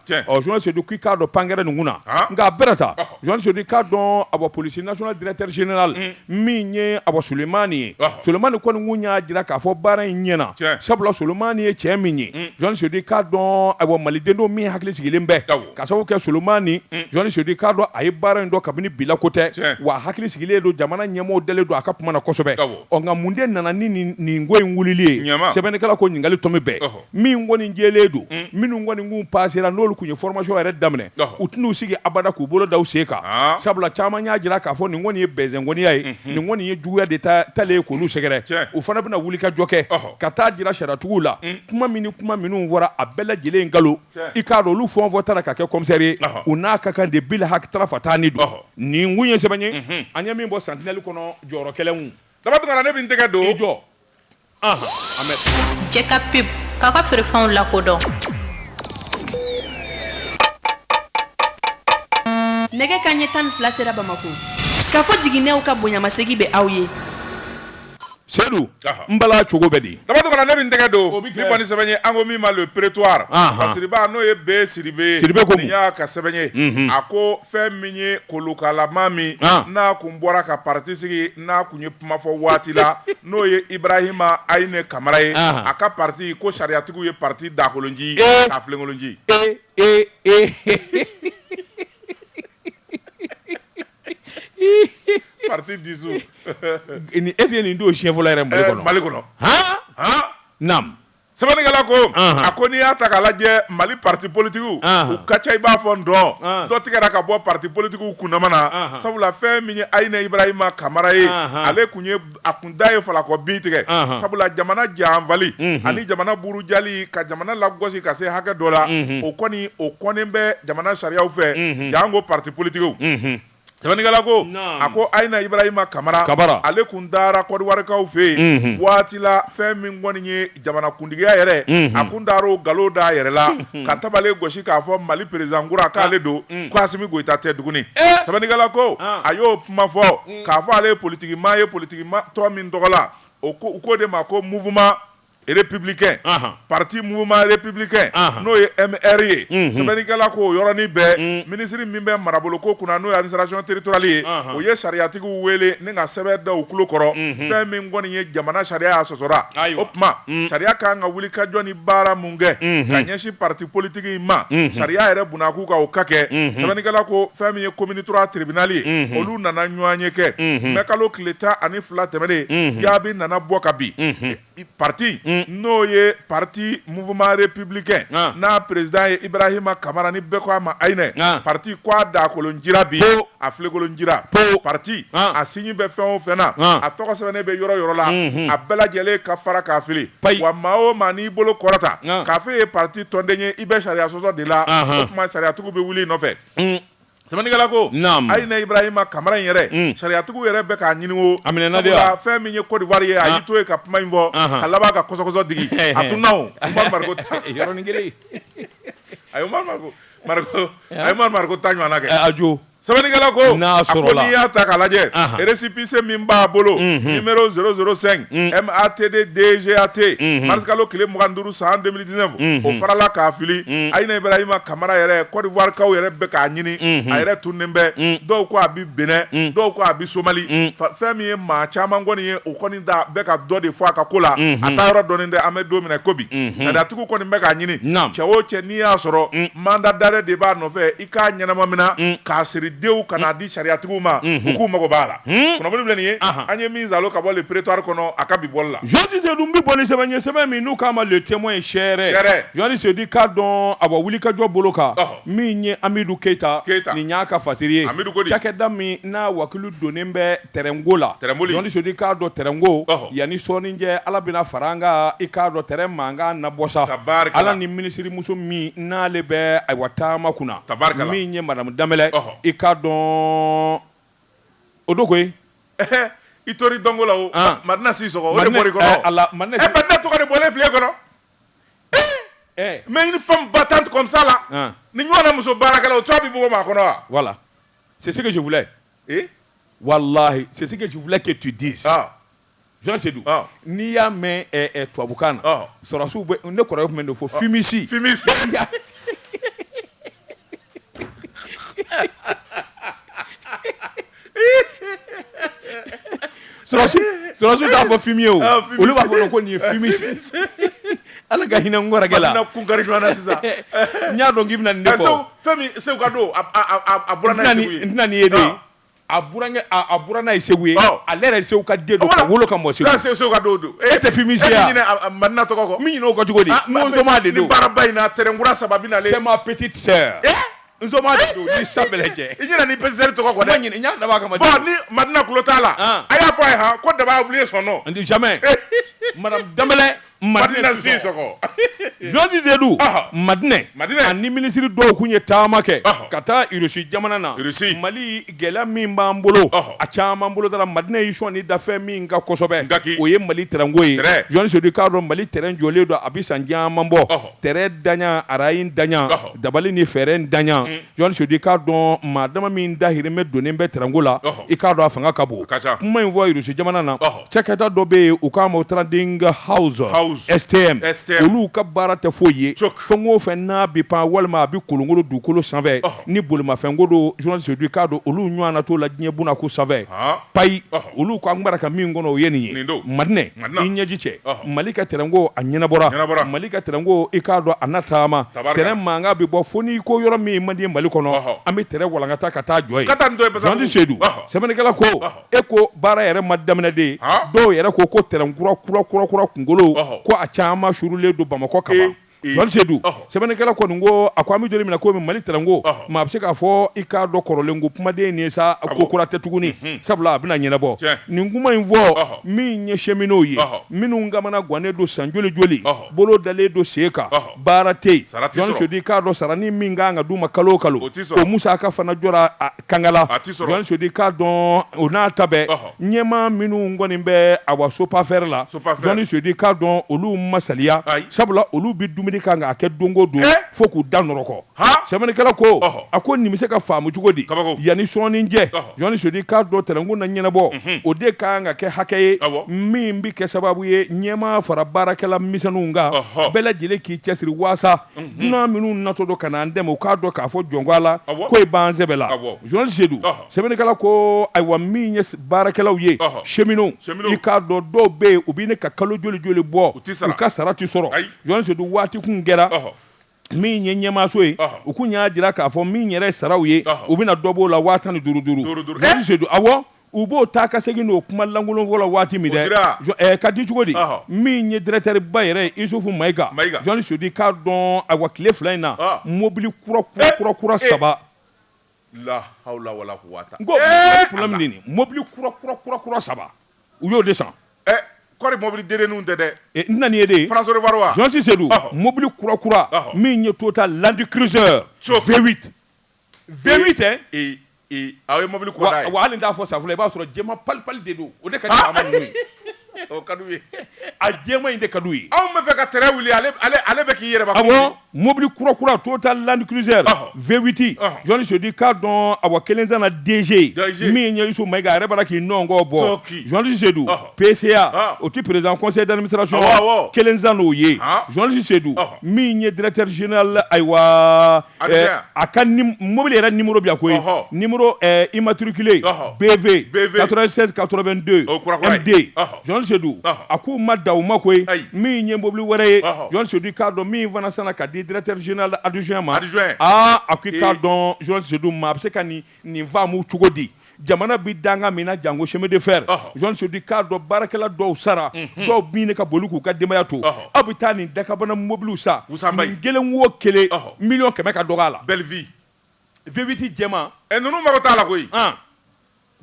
Sedu k'i k'a dɔn pankɛɛrɛ nin kun na nka a bɛɛ ta journaliste Sedu k'a dɔn awa police nationale directeur général min ye awa Solomani ye Solomani kɔni kun y'a jira k'a fɔ baara in ɲɛna sabula Solomani ye cɛ min ye journaliste Sedu k'a dɔn awa malidenw min hakili sigilen bɛ ka sababu kɛ Solomani journaliste Sedu k'a dɔn a ye baara in dɔn kabini bi la ko tɛ wa hakili sigilen don jamana ɲɛmɔgɔw dalen don a ka kuma na kosɛbɛ nka mun de nana ni nin ko in wulili ye sɛbɛnnikɛla ko ɲininkali tomi bɛɛ min kɔni jɛlen don minnu kɔni kun pasera n'olu tun ye formation yɛrɛ daminɛ u tɛn'u sigi abada k'u bolo da u sen kan sabula caman y'a jira k'a fɔ nin kɔni ye bɛnsɛngoniya ye nin kɔni ye juguya de talen ye k'olu sɛgɛrɛ u fana bɛna wulikajɔ kɛ ka t'a jira sariyatigiw la kuma min ni kuma minnu fɔra a bɛɛ lajɛlen nkalon i k'a dɔn olu fɛn o fɛn tara ka kɛ commissaire ye u n'a ka kan de bil haki tarafataani do nin kun ye sɛbɛn ye an ye min bɔ Sentinelle kɔnɔ jɔyɔrɔ kɛlɛnw Daba Tunkara ne bɛ n tɛgɛ don i jɔ. Jɛka pub k'a ka feerefɛnw lakodɔn nɛgɛ kanɲɛ tan ni fila sera bamakɔ Kafo Jiginɛw ka bonyamasegin bɛ aw ye sedu n bala cogo bɛ di Daba ne bɛ n tɛgɛ don nin kɔni sɛbɛn ye an ko min ma Le Prétoire siriba n'o ye B Sidibe Sidibe ko nin y'a ka sɛbɛn ye a ko fɛn min ye kolonkalama min n'a tun bɔra ka patisi n'a tun ye kuma fɔ waati la n'o ye ibarahima ayinɛ kamara ye a ka pati ko sariyatigiw ye pati daakolon ci k'a filenkolon ci pati dissous nin don siɲɛ fɔlɔ yɛrɛ mali kɔnɔ Sɛbɛnnikɛla ko, anhan, a ko n'i y'a ta k'a lajɛ Mali partis politiques anhan, u ka ca i b'a fɔ ndɔn, anhan, dɔ tigɛra ka bɔ partis politiques kundama na, anhan, sabula fɛn min ye Ayinɛ Ibarahima Kamara ye, anhan, ale tun ye a kun da ye falakɔ bin tigɛ, anhan, sabula jamana janfali, unhun, ani jamana burujali ka jamana lagosi ka se hakɛ dɔ la, unhun, o kɔni o kɔnnen bɛ jamana sariyaw fɛ, unhun, janko partis politiques, unhun. Sɛbɛnnikɛla ko, naamu, a ko Ayina Ibrahima Kamara, Kamara, ale tun taara Kɔdiwarikaw fɛ yen, unhun, waati la fɛn min kɔni ye jamanakuntigiya yɛrɛ, unhun, a tun taara o nkalon da a yɛrɛ la, unhun, ka tabale gosi k'a fɔ Mali president kura k'ale don, un, ko Asimi Goyita tɛ tuguni, ee, sɛbɛnnikɛla ko, an, a y'o kuma fɔ, un, k'a fɔ ale ye politikimaa ye politikimaa tɔn min tɔgɔ la, o ko u k'o de ma ko mouvement Républicain parti mouvement républicain n'o ye MR ye sɛbɛnnikɛla ko o yɔrɔnin bɛɛ minisiri min bɛ marabolo ko kunna n'o ye administration territoriale ye o ye sariyatigiw wele ni ka sɛbɛn da u tulo kɔrɔ fɛn min kɔni ye jamana sariya ye a sɔsɔra o tuma sariya ka kan ka wuli ka jɔ ni baara min kɛ ka ɲɛsin parti politique in ma sariya yɛrɛ binna a kun ka o ka kɛ sɛbɛnnikɛla ko fɛn min ye commune trois tribunal ye olu nana ɲɔgɔnye kɛ mɛ kalo tile tan ani fila tɛmɛnen jaabi nana bɔ ka bin pati n'o ye pati mouvement républicain n'a président ye ibarahima kamara ni bɛɛ ko a ma ayinɛ pati ko a daakolon cira bi a filenkolon cira o pati a signe bɛ fɛn o fɛn na a tɔgɔ sɛbɛnnen bɛ yɔrɔ yɔrɔ la a bɛɛ lajɛlen ka fara k'a fili wa maa o maa n'i bolo kɔrɔta k'a fɔ e ye parti tɔnden ye i bɛ sariya sɔsɔ de la o tuma sariyatigiw bɛ wuli i nɔfɛ sɛbɛnnikɛla ko Ayinɛ Ibrahima Kamara in yɛrɛ sariyatigiw yɛrɛ bɛ k'a ɲini o sabula fɛn min ye Côte d'Ivoire ye a y'i to yen ka kuma in fɔ ka laban ka kɔsɔkɔsɔ digi a tununna o Umaru Mariko ta yɔrɔnin kelen. umaru mariko ta ɲɔgɔnna kɛ a jo sɛbɛnnikɛla ko n'i y'a ta k'a lajɛ récépissé min b'a bolo numéro zéro zéro cinq MATD DGAT marisikalo tile mugan duuru san deux mille dix-neuf o farala k'a fili ayina ibarahima kamara yɛrɛ kɔdiwarikaw yɛrɛ bɛ k'a ɲini a yɛrɛ tununnen bɛ dɔw ko a bɛ Bénin dɔw ko a bɛ somali fɛn min ye maa caman kɔni ye o da bɛ ka dɔ de fɔ a ka ko la a taa yɔrɔ dɔnnen tɛ an bɛ don min na ko bi sariyatigiw kɔni bɛ k'a ɲini cɛ o cɛ n'i y'a sɔrɔ mandat d'arrêt de b'a nɔfɛ i k'a ɲɛnama mina k'a siri dew ka n'a di sariyatigiw ma u k'u mago b'a la kunnafoni filɛ nin ye an ye min salon ka bɔ le prétoire kɔnɔ a ka bi bɔli la jeli sedu n bɛ bɔ ni sɛbɛn ye sɛbɛn min n'u k'a ma le témoin ye seere jeli sedu k'a dɔn a bɛ wuli ka jɔ bolo kan min ye amidu keyita keyita nin y'a ka fasiri ye cakɛda min n'a wakulu don bɛɛ tɛrɛnko la tɛrɛnboli Jean Sedu i k'a dɔn tɛrɛnko ɔhɔ yanni sɔɔni cɛ ala bɛna fara an kan i k'a dɔn tɛrɛn mankan na bɔ sa tabarikala ala ni minisirimuso min n'ale bɛ ayiwa taama kunna tabarikala min ye madamu danbɛlɛ ɔhɔ i k'a dɔn o don koyi ɛhɛ i tori dɔnko la o an madina sisɔkɔ o de madina bɔr'i kɔnɔ ɛɛ o ala madina ɛ si madina tɔgɔ de bɔlen filɛ i kɔnɔ ɛɛ mais une femme battante comme ça là an nin ɲɔgɔnna muso baarakɛla o tɔgɔ bɛ bɔ maa kɔnɔ wa voilà c'est ce que je voulais ee walahi c'est ce que je voulais que tu dises ɔɔ Jean Sedu ɔɔ n'i y'a mɛn ɛɛ ɛɛ tubabukan na ɔɔ sɔrɔsiw bɛ ne kɔrɔkɛ tun bɛ nin de fɔ fumiste fumiste sɔrɔsiw t'a fɔ fumier o ah, olu b'a fɔ ko nin ye fumier ala ka hinɛ n kɔrɔkɛ la kun kari ɲɔgɔn na sisan n y'a dɔn k'i bɛna nin de fɔ eh, fɛn min segu ka don a bɔra n'a ye segu ye n tɛna nin ye de ah. a burankɛ a bɔra n'a ye segu ye ah. ale yɛrɛ segu ka den don ka wolo ka mɔ segu segu segu ka don don e tɛ fumisiya e ɲinɛ madina tɔgɔ kɔ min ɲinɛ o kɔ cogo di n ko soma de don nin baaraba in na tɛrɛnkura saba bɛ na ale c'est ma petite sœur eh? N don ni sa bɛɛ lajɛ i ɲinɛna i petite sœur tɔgɔ kɔ dɛ n y'a dab'a kama ni madina tulo t'a la a y'a fɔ a ye han ko daba a oublié son nom jamais madamu danbɛlɛ madina sisɔkɔ Jean Sedu madinɛ madina ni minisiri dɔw tun ye taama kɛ ka taa irusi jamana na mali gɛlɛya min b'an bolo a caman bolodara madinɛ y'i sɔn ni dafɛ min kan kosɛbɛ d'accord o ye mali tɛrɛnko ye Jean Sedu i k'a dɔn mali tɛrɛn jɔlen don a bɛ san caman bɔ tɛrɛntanya arayintanya dabali ni fɛɛrɛntanya mm. Jean Sedu i k'a dɔn maa dama min dahirimɛ donnen bɛ tɛrɛnko la i k'a dɔn a fanga ka bon kuma in fɔ irusi jamana na cakɛda dɔ bɛ yen u k'a ma trading house stm olu ka baara tɛ foyi ye fɛn o fɛn n'a bɛ pan walima a bɛ kolonkolon dugukolo sanfɛ ni bolimafɛnko don Jean Sedu i k'a dɔn olu ɲɔgɔn na t'o la diɲɛ buna ko sanfɛ payi olu ko an bɛra ka min kɔnɔ o ye nin ye madinɛ i ɲɛji cɛ mali ka tɛrɛnko a ɲɛnabɔra mali ka tɛrɛnko i k'a dɔn a na taama tɛrɛn mankan bɛ bɔ fo n'i ko yɔrɔ min man di mali kɔnɔ an bɛ tɛrɛn walankata ka taa jɔ yen Jean Sedu sɛbɛnnikɛla ko e ko baara yɛrɛ ma daminɛ dɛ dɔw yɛrɛ ko ko tɛrɛnkura kura kura kura kunkolow ko a caman suurulen don bamakɔ kaban sedu sɛbɛnnikɛla kɔni ko a ko an bɛ yɔrɔ min na ko mali tɛrɛnko maa bɛ se k'a fɔ i k'a dɔn kɔrɔlen ko kuma de nin ye sa ko kura tɛ tuguni sabula a bɛna ɲɛnabɔ nin kuma in fɔ min ye cheminot ye minnu kamanagannen don san joli joli bolo dalen don sen kan baara tɛ yen Jean Sedu i k'a dɔn sarani min ka kan ka d'u ma kalo o kalo o musaka fana jɔ kangala journaliste Sedu i k'a dɔn o n'a ta bɛɛ ɲɛmaa minnu kɔni bɛ awa SOPAFER la journaliste Sedu i k'a dɔn olu ma saliya sabula olu bɛ dumuni kan k'a kɛ donko don fo k'u da nɔrɔkɔ sɛbɛnnikɛla ko a ko nin bɛ se ka faamu cogo di yanni sɔɔni cɛ journaliste Sedu i k'a dɔn tɛrɛnko na ɲɛnabɔ o de ka kan ka kɛ hakɛ ye min bɛ kɛ sababu ye ɲɛmaa fara baarakɛla misɛnninw kan bɛɛ lajɛlen k'i cɛsiri waasa dunan minnu natɔ don ka na an dɛmɛ u k'a dɔn k'a fɔ jɔnkɔ a la Awɔ. ko e b'an sɛbɛ la Awɔ. journaliste Sedu Ɔhɔ. sɛbɛnnikɛla ko ayiwa min ye s- baarakɛlaw ye Ɔhɔ. cheminot Cheminot. i k'a dɔn dɔw bɛ yen u bɛ ɲini ka kalo joli joli bɔ U tɛ sara. u ka sara tɛ sɔrɔ Ayi. journaliste Sedu waati kun kɛra Ɔhɔ. min ye ɲɛmaaso ye Ɔhɔ. u kun y'a jira k'a fɔ min yɛrɛ ye saraw ye Ɔhɔ. u bɛna dɔ b'o la waa tan ni duuru duuru Duuru duuru. Journaliste Eh! Sedu awɔ U b'o ta ka segin n'o kuma lankolon fɔ la waati min dɛ, o dira, ɛ ka di cogo di, ɔhɔ, min ye directeur ba yɛrɛ ye Isufu Mayiga, Mayiga, journaliste Sedu i k'a dɔn ayiwa tile fila in na, ɔɔ, mobili kura kura kura kura ee, saba, ee, la hawula wala kuwata, n ko ee, problème de ye nin ye, mobili kura kura kura kura saba u y'o de san, ɛ kɔri mobili dedenninw tɛ dɛ, e n na n'i ye de, France au revoir wa, journaliste Sedu, ɔhɔ, mobili kura kura, ɔhɔ, min ye Toyota Land Cruiser, so, V8 Vmi tɛ aw ye mɔbili waga'a fɔ sa i b'a sɔrɔ jɛma pali pali de don o ka a jɛma in de ka ye anw bɛ fɛ ka t wuli ale bɛ k'i yɛrɛ mɔbili kura kura to ta lani kiz la vvti jɔnni sodi k'a dɔn a wa kelen denz min ɲɛsu ma a yɛrɛ' k'i nɔn kɔ bɔɔnse PCA o tɛ président conseil d'administration ye wa kelen sanna o ye journaliste Sedu min ye directeur général ayiwa a ka mobili yɛrɛ numéro bɛ yan koyi numéro immatriculé BV 96 82 MD journaliste Sedu a k'u ma dan o ma koyi min ye mobili wɛrɛ ye journaliste Sedu i k'a dɔn min fana sanna ka di directeur général adjoint ma aa a ko i k'a dɔn journaliste Sedu maa bɛ se ka nin Nin faamu cogo di? Jamana bɛ danga min na janko chemin de fer, journaliste Sedu i k'a dɔn baarakɛla dɔw sara, dɔw bɛ ɲini ka boli k'u ka denbaya to. Aw bɛ taa nin dakabana mobiliw san, nin kelen o kelen miliyɔn kɛmɛ ka dɔgɔ a la. Belle vie. V8 jɛman. Ɛ ninnu mago t'a la koyi. An.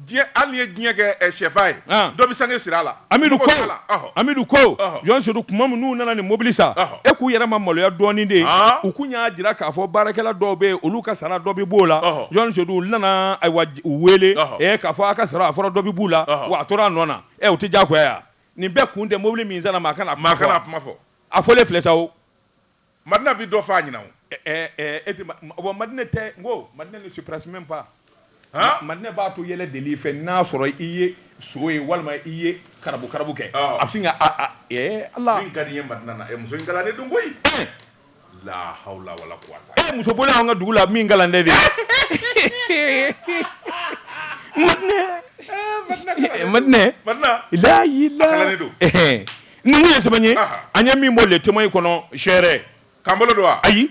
Diɲɛ, hali n'i ye diɲɛ kɛ sɛfan ye, dɔ bɛ sange siri a la. Awɔ, Amidu ko, journaliste Sedu kuma min n'u nana nin mobili san, e k'u yɛrɛ ma maloya dɔɔnin de, u kun y'a jira k'a fɔ baarakɛla dɔw bɛ yen olu ka sara dɔ bɛ b'o la, journaliste Sedu olu nana ayiwa u wele k'a fɔ a ka sara a fɔra dɔ bɛ b'u la wa a tora a nɔ na, ɛ o tɛ diyagoya ye wa, nin bɛɛ kun tɛ mobili min sanna maa kana a kuma fɔ, a fɔlen filɛ sa o Madina bi dɔ f'a ɲɛna o. Ɛɛ e tɛ bon Madina tɛ n ko Madina ne se presse même pas han Madina b'a to yɛlɛ deli i fɛ n'a sɔrɔ i ye so ye walima i ye karabu karabu kɛ a bɛ sin ka a a ee Ala min ka di n ye Madina na ee muso in galande don koyi ee laa hawula wala kuwata ee muso bɔlen an ka dugu la min galande de Madina ee Madina Madina Madina laa ilaa a galande don ee. Ni mun ye sɛbɛn ye an ye min bɔ Le Témoin kɔnɔ sɛɛrɛ k'an bolo don ayi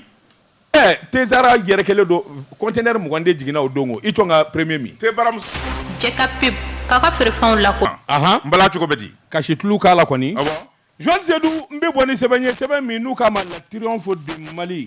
ɛɛ tezsara yɛrɛ kelen don conteneur mugan de jiginna o don i tun ka premier min cɛ ka pub k'a ka feerefɛnw la n bala cogo bɛ di ka situlu k'a la kɔni Jɔn Sedu n bɛ bɔ ni sɛbɛn ye sɛbɛn min n'u k'a ma La Triomphe de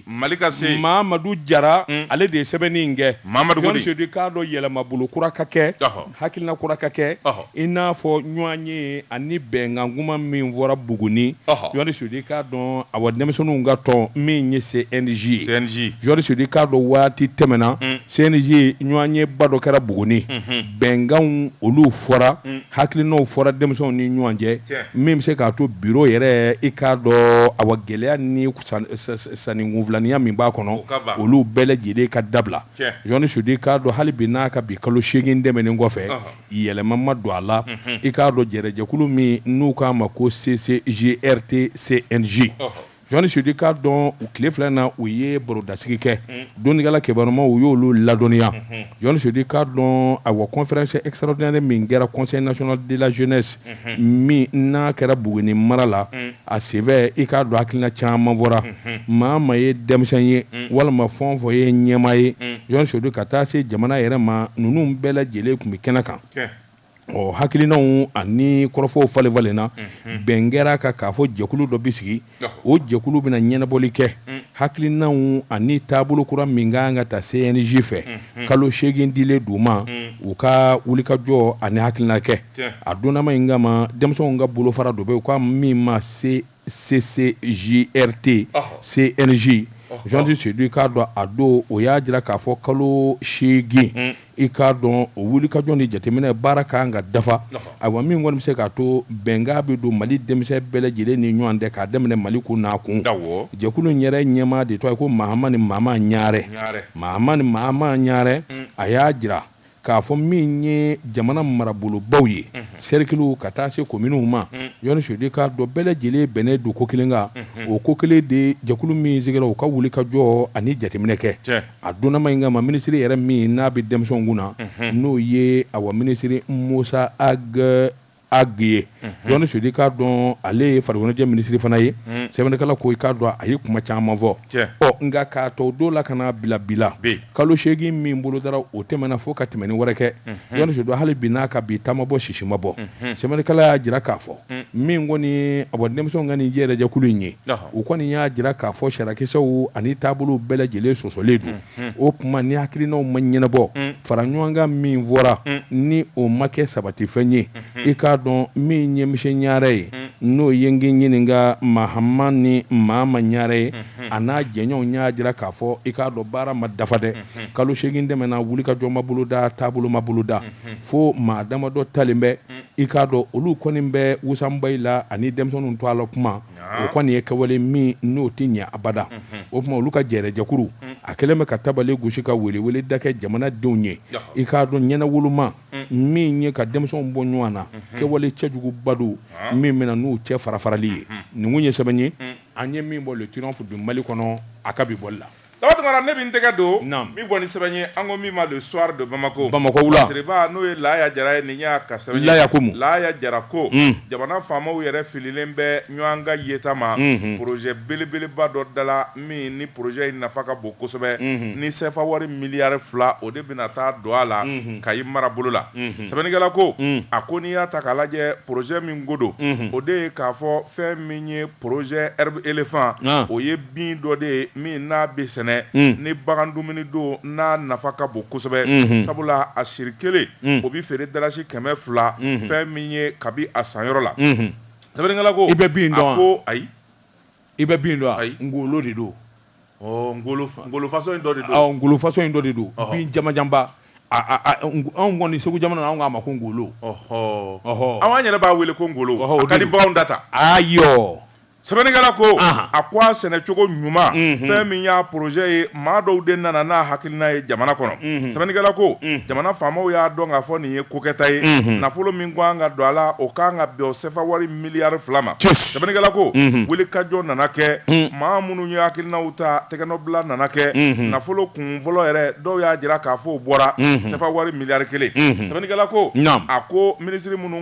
Mali ka se mamadu jara ale de ye sɛbɛnni in kɛ Jɔn Sedu k'a dɔn yɛlɛmabolo kura ka kɛ Hakilina kura ka kɛ i n'a fɔ ɲɔgɔnye ani bɛnkankuma min fɔra Buguni, Jɔni Sedu i k'a dɔn awa denmisɛnninw ka tɔn min ye CNJ ye, CNJ, Jɔni Sedu i k'a dɔn waati tɛmɛna CNJ ɲɔgɔnyeba dɔ kɛra Buguni, unhun, bɛnkanw olu fɔra, hakilinaw fɔra denmisɛnw ni ɲɔgɔn cɛ, tiɲɛ, min bɛ se k'a to bureau yɛrɛ i k'a dɔn awa gɛlɛya ni sanni kunfilaninya min b'a kɔnɔ, o ka ban, olu bɛɛ lajɛlen ka dabila. Jɔnni Sedu k'a dɔn hali bi n'a ka bi kalo seegin tɛmɛnen kɔfɛ yɛlɛma ma don a la i k'a dɔn jɛrɛjɛkulu min n'u k'a ma ko CCGRT CNJ Jɔnni Sedu k'a dɔn u tile fila na u ye barodasigi kɛ dɔnnikɛla kibarumaw u y'olu ladɔnniya Jɔnni Sedu k'a dɔn awa conférence extraordinaire min kɛra conseil national de la jeunesse min n'a kɛra Buguni mara la, a senfɛ i k'a dɔn hakilina caman fɔra, maa o maa ye denmisɛn ye walima fɛn o fɛn ye ɲɛmaa ye, Jɔn Sedu ka taa se jamana yɛrɛ ma, ninnu bɛɛ lajɛlen tun bɛ kɛnɛ kan, ɔ hakilinaw ani kɔrɔfɔw falen-falenna, bɛn kɛra a kan k'a fɔ jɛkulu dɔ bɛ sigi O jɛkulu bɛna ɲɛnabɔli kɛ hakilinaw ani taabolo kura min ka kan ka ta CNJ fɛ kalo seegin dilen d'u ma u ka wulikajɔ ani hakilina kɛ a donnama in kama denmisɛnw ka bolofara dɔ bɛ yen u k'a min ma CCJRT CNJ Jɔni Sedu k'a dɔn a don o y'a jira k'a fɔ kalo seegin i k'a dɔn o wulikajɔ ni jateminɛ baara ka kan ka dafa ayiwa min kɔni bɛ se k'a to bɛnkan bɛ don mali denmisɛn bɛɛ lajɛlen ni ɲɔgɔn cɛ k'a daminɛ Mali kun n'a kun jɛkulu in yɛrɛ ɲɛmaa de tɔgɔ ye ko Mahamani Maama Ɲaarɛ a y'a jira k'a fɔ min ye jamana marabolobaw ye sɛrikiliw ka taa se kominiw ma Jɔn Sedu k'a dɔn bɛɛ lajɛlen bɛnnen don ko kelen kan o ko kelen de jɛkulu min sigira u ka wulikajɔ ani jateminɛ kɛ A donma in kama minisiri yɛrɛ min n'a bɛ denmisɛnw kunna n'o ye awa minisiri Musa Ag ye dɔnni Seydou k'a dɔn ale ye farikoloɲɛnajɛ minisiri fana ye sɛbɛnnikɛla ko i k'a dɔn a ye kuma caman fɔ ɔ nka k'a tɔ don la ka na bila bila kalo seegin min bolodara o tɛmɛna fo ka tɛmɛnni wɛrɛ kɛ dɔnni Seydou hali bi n'a ka bi ta ma bɔ sisi ma bɔ sɛbɛnnikɛla y'a jira k'a fɔ min kɔni a denmisɛnw ka nin jɛrɛjɛkulu in ye U kɔni y'a jira k'a fɔ sariyakisɛw ani taabolo bɛɛ lajɛlen sɔsɔlen don o tuma ni hakilinaw ma ɲɛnabɔ faraɲɔgɔnkan min fɔra ni o ma kɛ sabatifɛn ye i k'a dɔn min ye monsieur Ɲare ye n'o ye n ɲininka Mahamani Mama Ɲare ye a n'a jɛɲɔgɔnw y'a jira k'a fɔ i k'a dɔn baara ma dafa dɛ kalo seegin tɛmɛna wulikajɔ ma boloda taabolo ma boloda fo maa damadɔ talen bɛ i k'a dɔn olu kɔni bɛ wasabayi la ani denmisɛnninw to a la kuma o kɔni ye kɛwale min n'o tɛ ɲɛ abada o tuma olu ka jɛrɛjɛkuru a kɛlen bɛ ka tabale gosi ka weleweleda kɛ jamanadenw ye i k'a dɔn ɲɛnawoloma min ye ka denmisɛnw bɔ ɲɔgɔn na kɛwale cɛjuguba don min bɛna n'u cɛ farafarali ye nin kun ye sɛbɛn ye an ye min bɔ le triomphe du Mali kɔnɔ a ka bi bɔli la Daba Tounkara ne bɛ n tɛgɛ don, naamu, min bɔ ni sɛbɛn ye an ko min ma le soir de Bamako, Bamakɔ wula, lasiriba n'o ye Laaya Jara ye nin y'a ka sɛbɛn ye, Laaya ko mun? Laaya Jara ko, un, jamana faamaw yɛrɛ fililen bɛ ɲɔgɔn ka yeta ma, unhun, projet belebeleba dɔ dala min ni projet in nafa ka bon kosɛbɛ, unhun, ni CFA wari miliyari fila o de bɛna taa don a la, unhun, Kayi marabolo la, unhun, sɛbɛnnikɛla ko, un, a ko n'i y'a ta k'a lajɛ projet min ko don, unhun, o de ye k'a fɔ fɛn min ye projet herbe éléphant, an, o ye bin dɔ de ye min n'a bɛ sɛnɛ ni bagan dumuni don n'a nafa ka bon kosɛbɛ sabula a siri kelen o bɛ feere dalasi kɛmɛ fila fɛn min ye kabi a sanyɔrɔ la sɛbɛnnikɛla ko i bɛ bin dɔn ko ayi i bɛ bin dɔn ayi ngolo de don ngolo façon in dɔ de don bin jamanjanba anw kɔni Segu jamana anw k'a ma ko ngolo an yɛrɛ b'a wele ko ngolo ka di bagan da la ayi sɛbɛnnikɛla ko Ahan. a ko a sɛnɛcogo ɲuman fɛn min y'a projet ye maa dɔw de nana n'a hakilina ye jamana kɔnɔ sɛbɛnnikɛla ko jamana faamaw y'a dɔn k'a fɔ nin ye kokɛta ye nafolo min kan ka don a la o kan ka bɛn o sefa wari miliyari fila ma Cus. sɛbɛnnikɛla ko wulikajɔ nana kɛ maa minnu ye hakilinaw ta tɛgɛnɔbila nana kɛ nafolo kun fɔlɔ yɛrɛ dɔw y'a jira k'a fɔ o bɔra sefa wari miliyari kelen sɛbɛnnikɛla ko Naamu. a ko minisiri minnu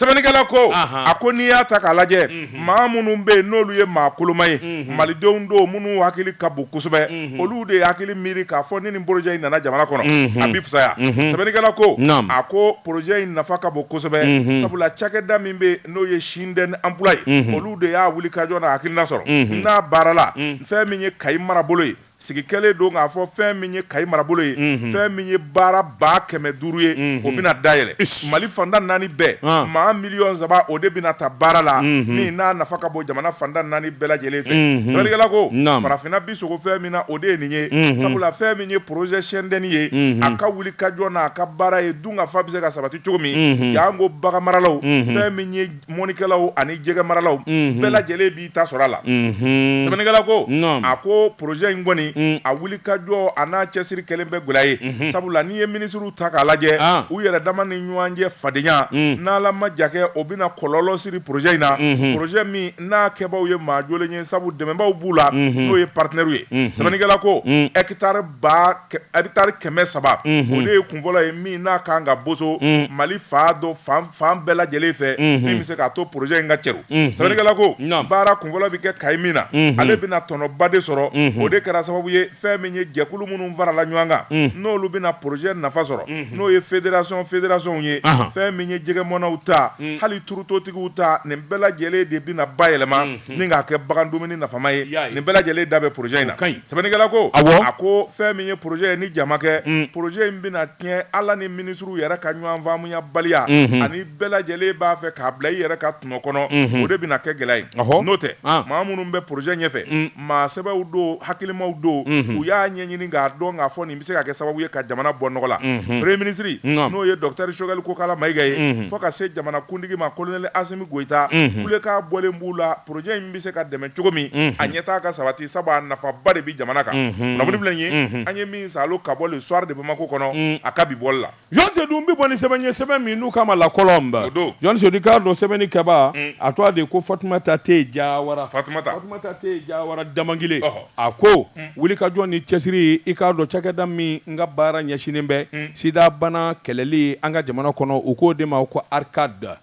sɛbɛnnikɛla ko a ko n'i y'a ta k'a lajɛ maa minnu bɛ yen n'olu ye maa koloma ye malidenw don minnu hakili ka bon kosɛbɛ olu de hakili miiri k'a fɔ ni nin porojɛ in nana jamana kɔnɔ a bɛ fisaya sɛbɛnnikɛla ko a ko porojɛ in nafa ka bon kosɛbɛ sabula cakɛda min bɛ n'o ye Sinden emploi ye olu de y'a wulikajɔ n'a hakilina sɔrɔ n'a baara la fɛn min ye Kayi marabolo ye sigi kɛlen don k'a fɔ fɛn min ye kayi marabolo ye mhm. fɛn min ye baara ba kɛmɛ duuru ye mhm. o bɛna dayɛlɛ mali fanda naani bɛɛ ah. maa miliyɔn saba o de bɛna ta baara la mhm. min n'a nafa ka bon jamana fanda naani bɛɛ lajɛlen fɛ sɛbɛnnikɛla ko farafinna bi sogo fɛn min na o de ye nin ye sabula fɛn min ye projet sɛndɛni ye a ka wuli ka jɔ n'a ka baara ye dunkafa bɛ se ka sabati cogo min y'an ko bagan maralaw fɛn min ye mɔnikɛlaw ani jɛgɛ maralaw mhm. bɛɛ lajɛlen b'i ta sɔrɔ a la mhm. sɛbɛnnikɛla ko a ko projet in kɔni mm. a wuli ka jɔ an'a cɛsiri kɛlen bɛ gwɛlɛya ye mhm. sabula n'i ye minisiriw ta k'a lajɛ ah. u yɛrɛ dama ni ɲɔgɔn cɛ fadenya mm. n'ala ma ja kɛ o bɛna kɔlɔlɔ siri projet in na projet min n'a kɛbaaw ye maa jolen ye sabu dɛmɛbaaw b'u la n'o ye partenaires ye sɛbɛnnikɛla ko mm. hectare ba hectare kɛmɛ saba o de ye kunfɔlɔ ye min n'a kan ka boso mali fan dɔ fan bɛɛ lajɛlen fɛ min bɛ se k'a to poroze in ka cɛru sɛbɛnnikɛla ko baara kunfɔlɔ bɛ kɛ kayi min na ale bɛna tɔnɔba de sɔrɔ o de kɛra sababu ye fɛn min ye jɛkulu minnu farala ɲɔgɔn kan n'olu bɛna poroze nafa sɔrɔ n'o ye fédération fédérationw ye fɛn min ye jɛgɛ mɔnnaw ta hali turutotigiw ta nin bɛɛ lajɛlen de bɛna bayɛlɛma ni k'a kɛ bagan dumuni nafama ye nin bɛɛ lajɛlen da bɛ poroze in na Sɛbɛnnikɛla ko, awɔ, a ko fɛn min ye projet ye ni ja ma kɛ, un, projet in bɛna tiɲɛ Ala ni minisiriw yɛrɛ ka ɲɔgɔn faamuyabaliya, unhun, ani bɛɛ lajɛlen b'a fɛ k'a bila i yɛrɛ ka tɔnɔ kɔnɔ, unhun, o de bɛna kɛ gɛlɛya ye, ɔhɔ, n'o tɛ, an, maa minnu bɛ projet ɲɛfɛ, un, maa sɛbɛw don, hakilimaw don, unhun, u y'a ɲɛɲini k'a dɔn k'a fɔ nin bɛ se ka kɛ sababu ye ka jamana bɔ nɔgɔ la, unhun, premier ministre, naamu, n'o ye docteur Choguel Kokala Mayiga ye, unhun, fo ka se jamanakuntigi ma colonel Asimi Goyita, unhun, kulekan bɔlen b'u la. porojɛ in bɛ se ka dɛmɛ cogo min a ɲɛtaa ka sabati sabu a nafaba de bɛ jamana kan kunnafoni filɛ nin ye an ye min sɔrɔ ka bɔ le soir de bamakɔ kɔnɔ a ka bi bɔli la jɔn seydou bɛ bɔ ni sɛbɛn ye sɛbɛn min n'u ka ma la kɔlɔn don jɔn seydou k'a dɔn sɛbɛnnikɛba a tɔgɔ de ko fatumata te jawara damangile a ko wuli ka jɔ ni cɛsiri i k'a dɔn cakɛda min n ka baara ɲɛsinnen bɛ sidabana kɛlɛli an ka jamana kɔnɔ u k'o de ma ko ARCAD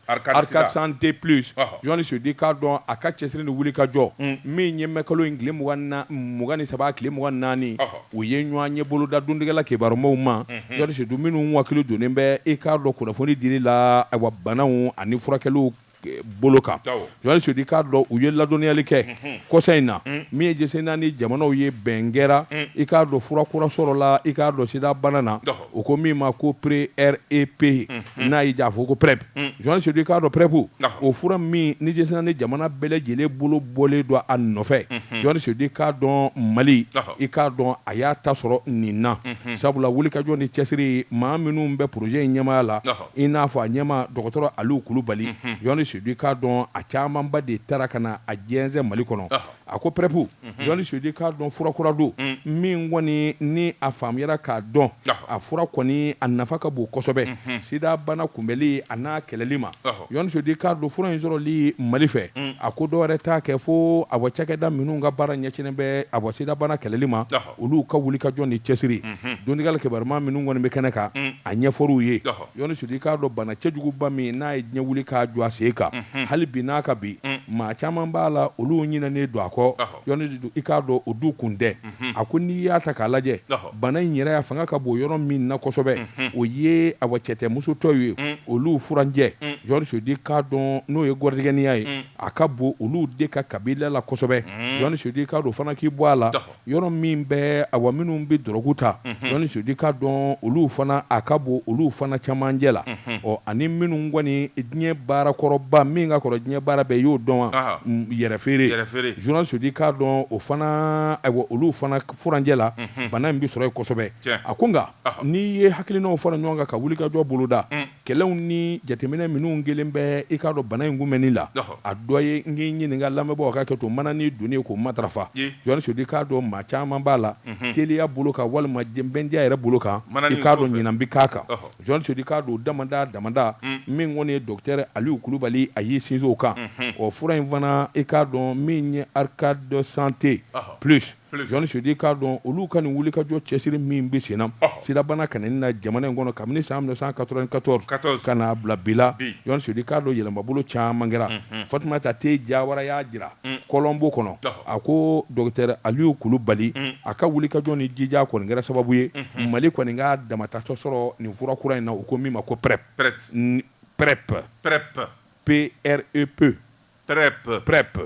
santé plus Jɔn seydou i k'a dɔn a ka cɛsiri ni wuli ka jɔ min ye mɛkalo in tile mugan ni saba tile mugan naani u ye ɲɔgɔnye boloda dantigɛla kibaru maaw ma jɔn seydou minnu wakili donnen bɛ i k'a dɔn kunnafoni dili la ayiwa banaw ani furakɛliw bolo kan jɔn seydou i k'a dɔn u ye ladɔnniyali kɛ kɔsa in na min ye diɲɛ seleke naani jamanaw ye bɛn kɛra i k'a dɔn fura kura sɔrɔla i k'a dɔn sidabana na u ko min ma ko PrEP n'a y'i ja fɔ ko PrEP jɔn seydou k'a dɔn PrEP o fura min ni diɲɛ seleke naani jamana bɛɛ lajɛlen bolo bɔlen don a nɔfɛ jɔn seydou k'a dɔn mali i k'a dɔn a y'a ta sɔrɔ nin na sabula wuli ka jɔ ni cɛsiri maa minnu bɛ projet in ɲɛmaaya la i n'a fɔ a ɲɛmaa dɔgɔtɔrɔ aliyu kulubali jɔn seydou k'a dɔn a camanba de taara ka na a jɛnsɛn mali kɔnɔ A ko prep John Seydou k'a dɔn furakura don min kɔni ni a faamuyara k'a dɔn a fura kɔni a nafa ka bon kosɛbɛ sida bana kunbɛnli an'a kɛlɛli ma John Seydou k'a dɔn fura in sɔrɔli mali fɛ a ko dɔ wɛrɛ t'a kɛ fo a wa cakɛda minnu ka baara ɲɛsinnen bɛ a wa sidabana kɛlɛli ma Olu ka wuli ka jɔ ni cɛsiri donkali kiba minnu kɔni bɛ kɛnɛ kan a ɲɛfɔr'u ye John Seydou i k'a dɔn bana cɛjuguba min n'a ye diɲɛ wuli k'a jɔ a sen kan hali bi n'a ka bi maa caman b'a la olu ɲinɛnen don a kɔ i k'a dɔn o dun kun tɛ a ko n'i y'a ta k'a lajɛ bana in yɛrɛ a fanga ka bon yɔrɔ min na kosɛbɛ o ye a wa cɛtɛmusotɛw ye olu furancɛ John Seydou k'a dɔn n'o ye gɔrijigɛniya ye a ka bon olu de ka kabila la kosɛbɛ John Seydou i k'a dɔn fana k'i bɔ a la Yɔrɔ min bɛ a wa minnu bɛ dɔrɔgu ta John Seydou k'a dɔn olu fana a ka bon olu fana cɛmancɛ la ɔ ani minnu kɔni diɲɛ baara kɔrɔba min ka kɔrɔ diɲɛ baara bɛɛ y'o dɔn wa yɛrɛfeere John Seydou k'a dɔn o fana ayiwa olu fana furancɛ la bana in bɛ sɔrɔ yen kosɛbɛ a ko nka n'i ye hakilinaw fara ɲɔgɔn kan ka wulikajɔ boloda Kɛlɛw ni jateminɛ minnu kɛlen bɛ i k'a dɔn bana in kunbɛnni la, a dɔ ye n k'i ɲininka lamɛnbaaw ka hakɛ to manani donni k'o matarafa. John Seydou, i k'a dɔn maa caman b'a la teliya bolo kan walima bɛndiya yɛrɛ bolo kan, i k'a dɔn ɲina bɛ k'a kan. John Seydou, i k'a dɔn o damada damada min kɔni ye Docteur Aliyu Kulubali a y'i sinsin o kan, o fura in fana i k'a dɔn min ye ARCAD Santé Plus, John Seydou k'a dɔn olu ka nin wulikajɔ cɛsiri min bɛ senna sidabana ka na jamana in kɔnɔ kabini san mille neuf cent quatre-vingt-quatorze ka n'a bila bi la John Seydou k'a dɔn yɛlɛmabolo caman kɛra Fatumata Te Jawara y'a jira kɔlɔnbo kɔnɔ a ko docteur Aliyu Kulubali a ka wulikajɔ ni jija kɔni kɛra sababu ye mali kɔni k'a dama ta sɔ sɔrɔ nin fura kura in na u ko min ma ko prep prep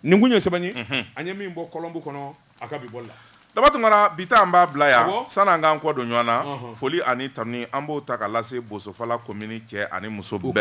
nin kun ye sɛbɛn ye an ye min bɔ kɔlɔnbo kɔnɔ a ka bi bɔli la Daba Tunkara bi ta an b'a bila yan san'an k'an kɔ don ɲɔgɔn na foli ani tanuni an b'o ta ka lase Bosofala komini cɛ ani muso bɛɛ la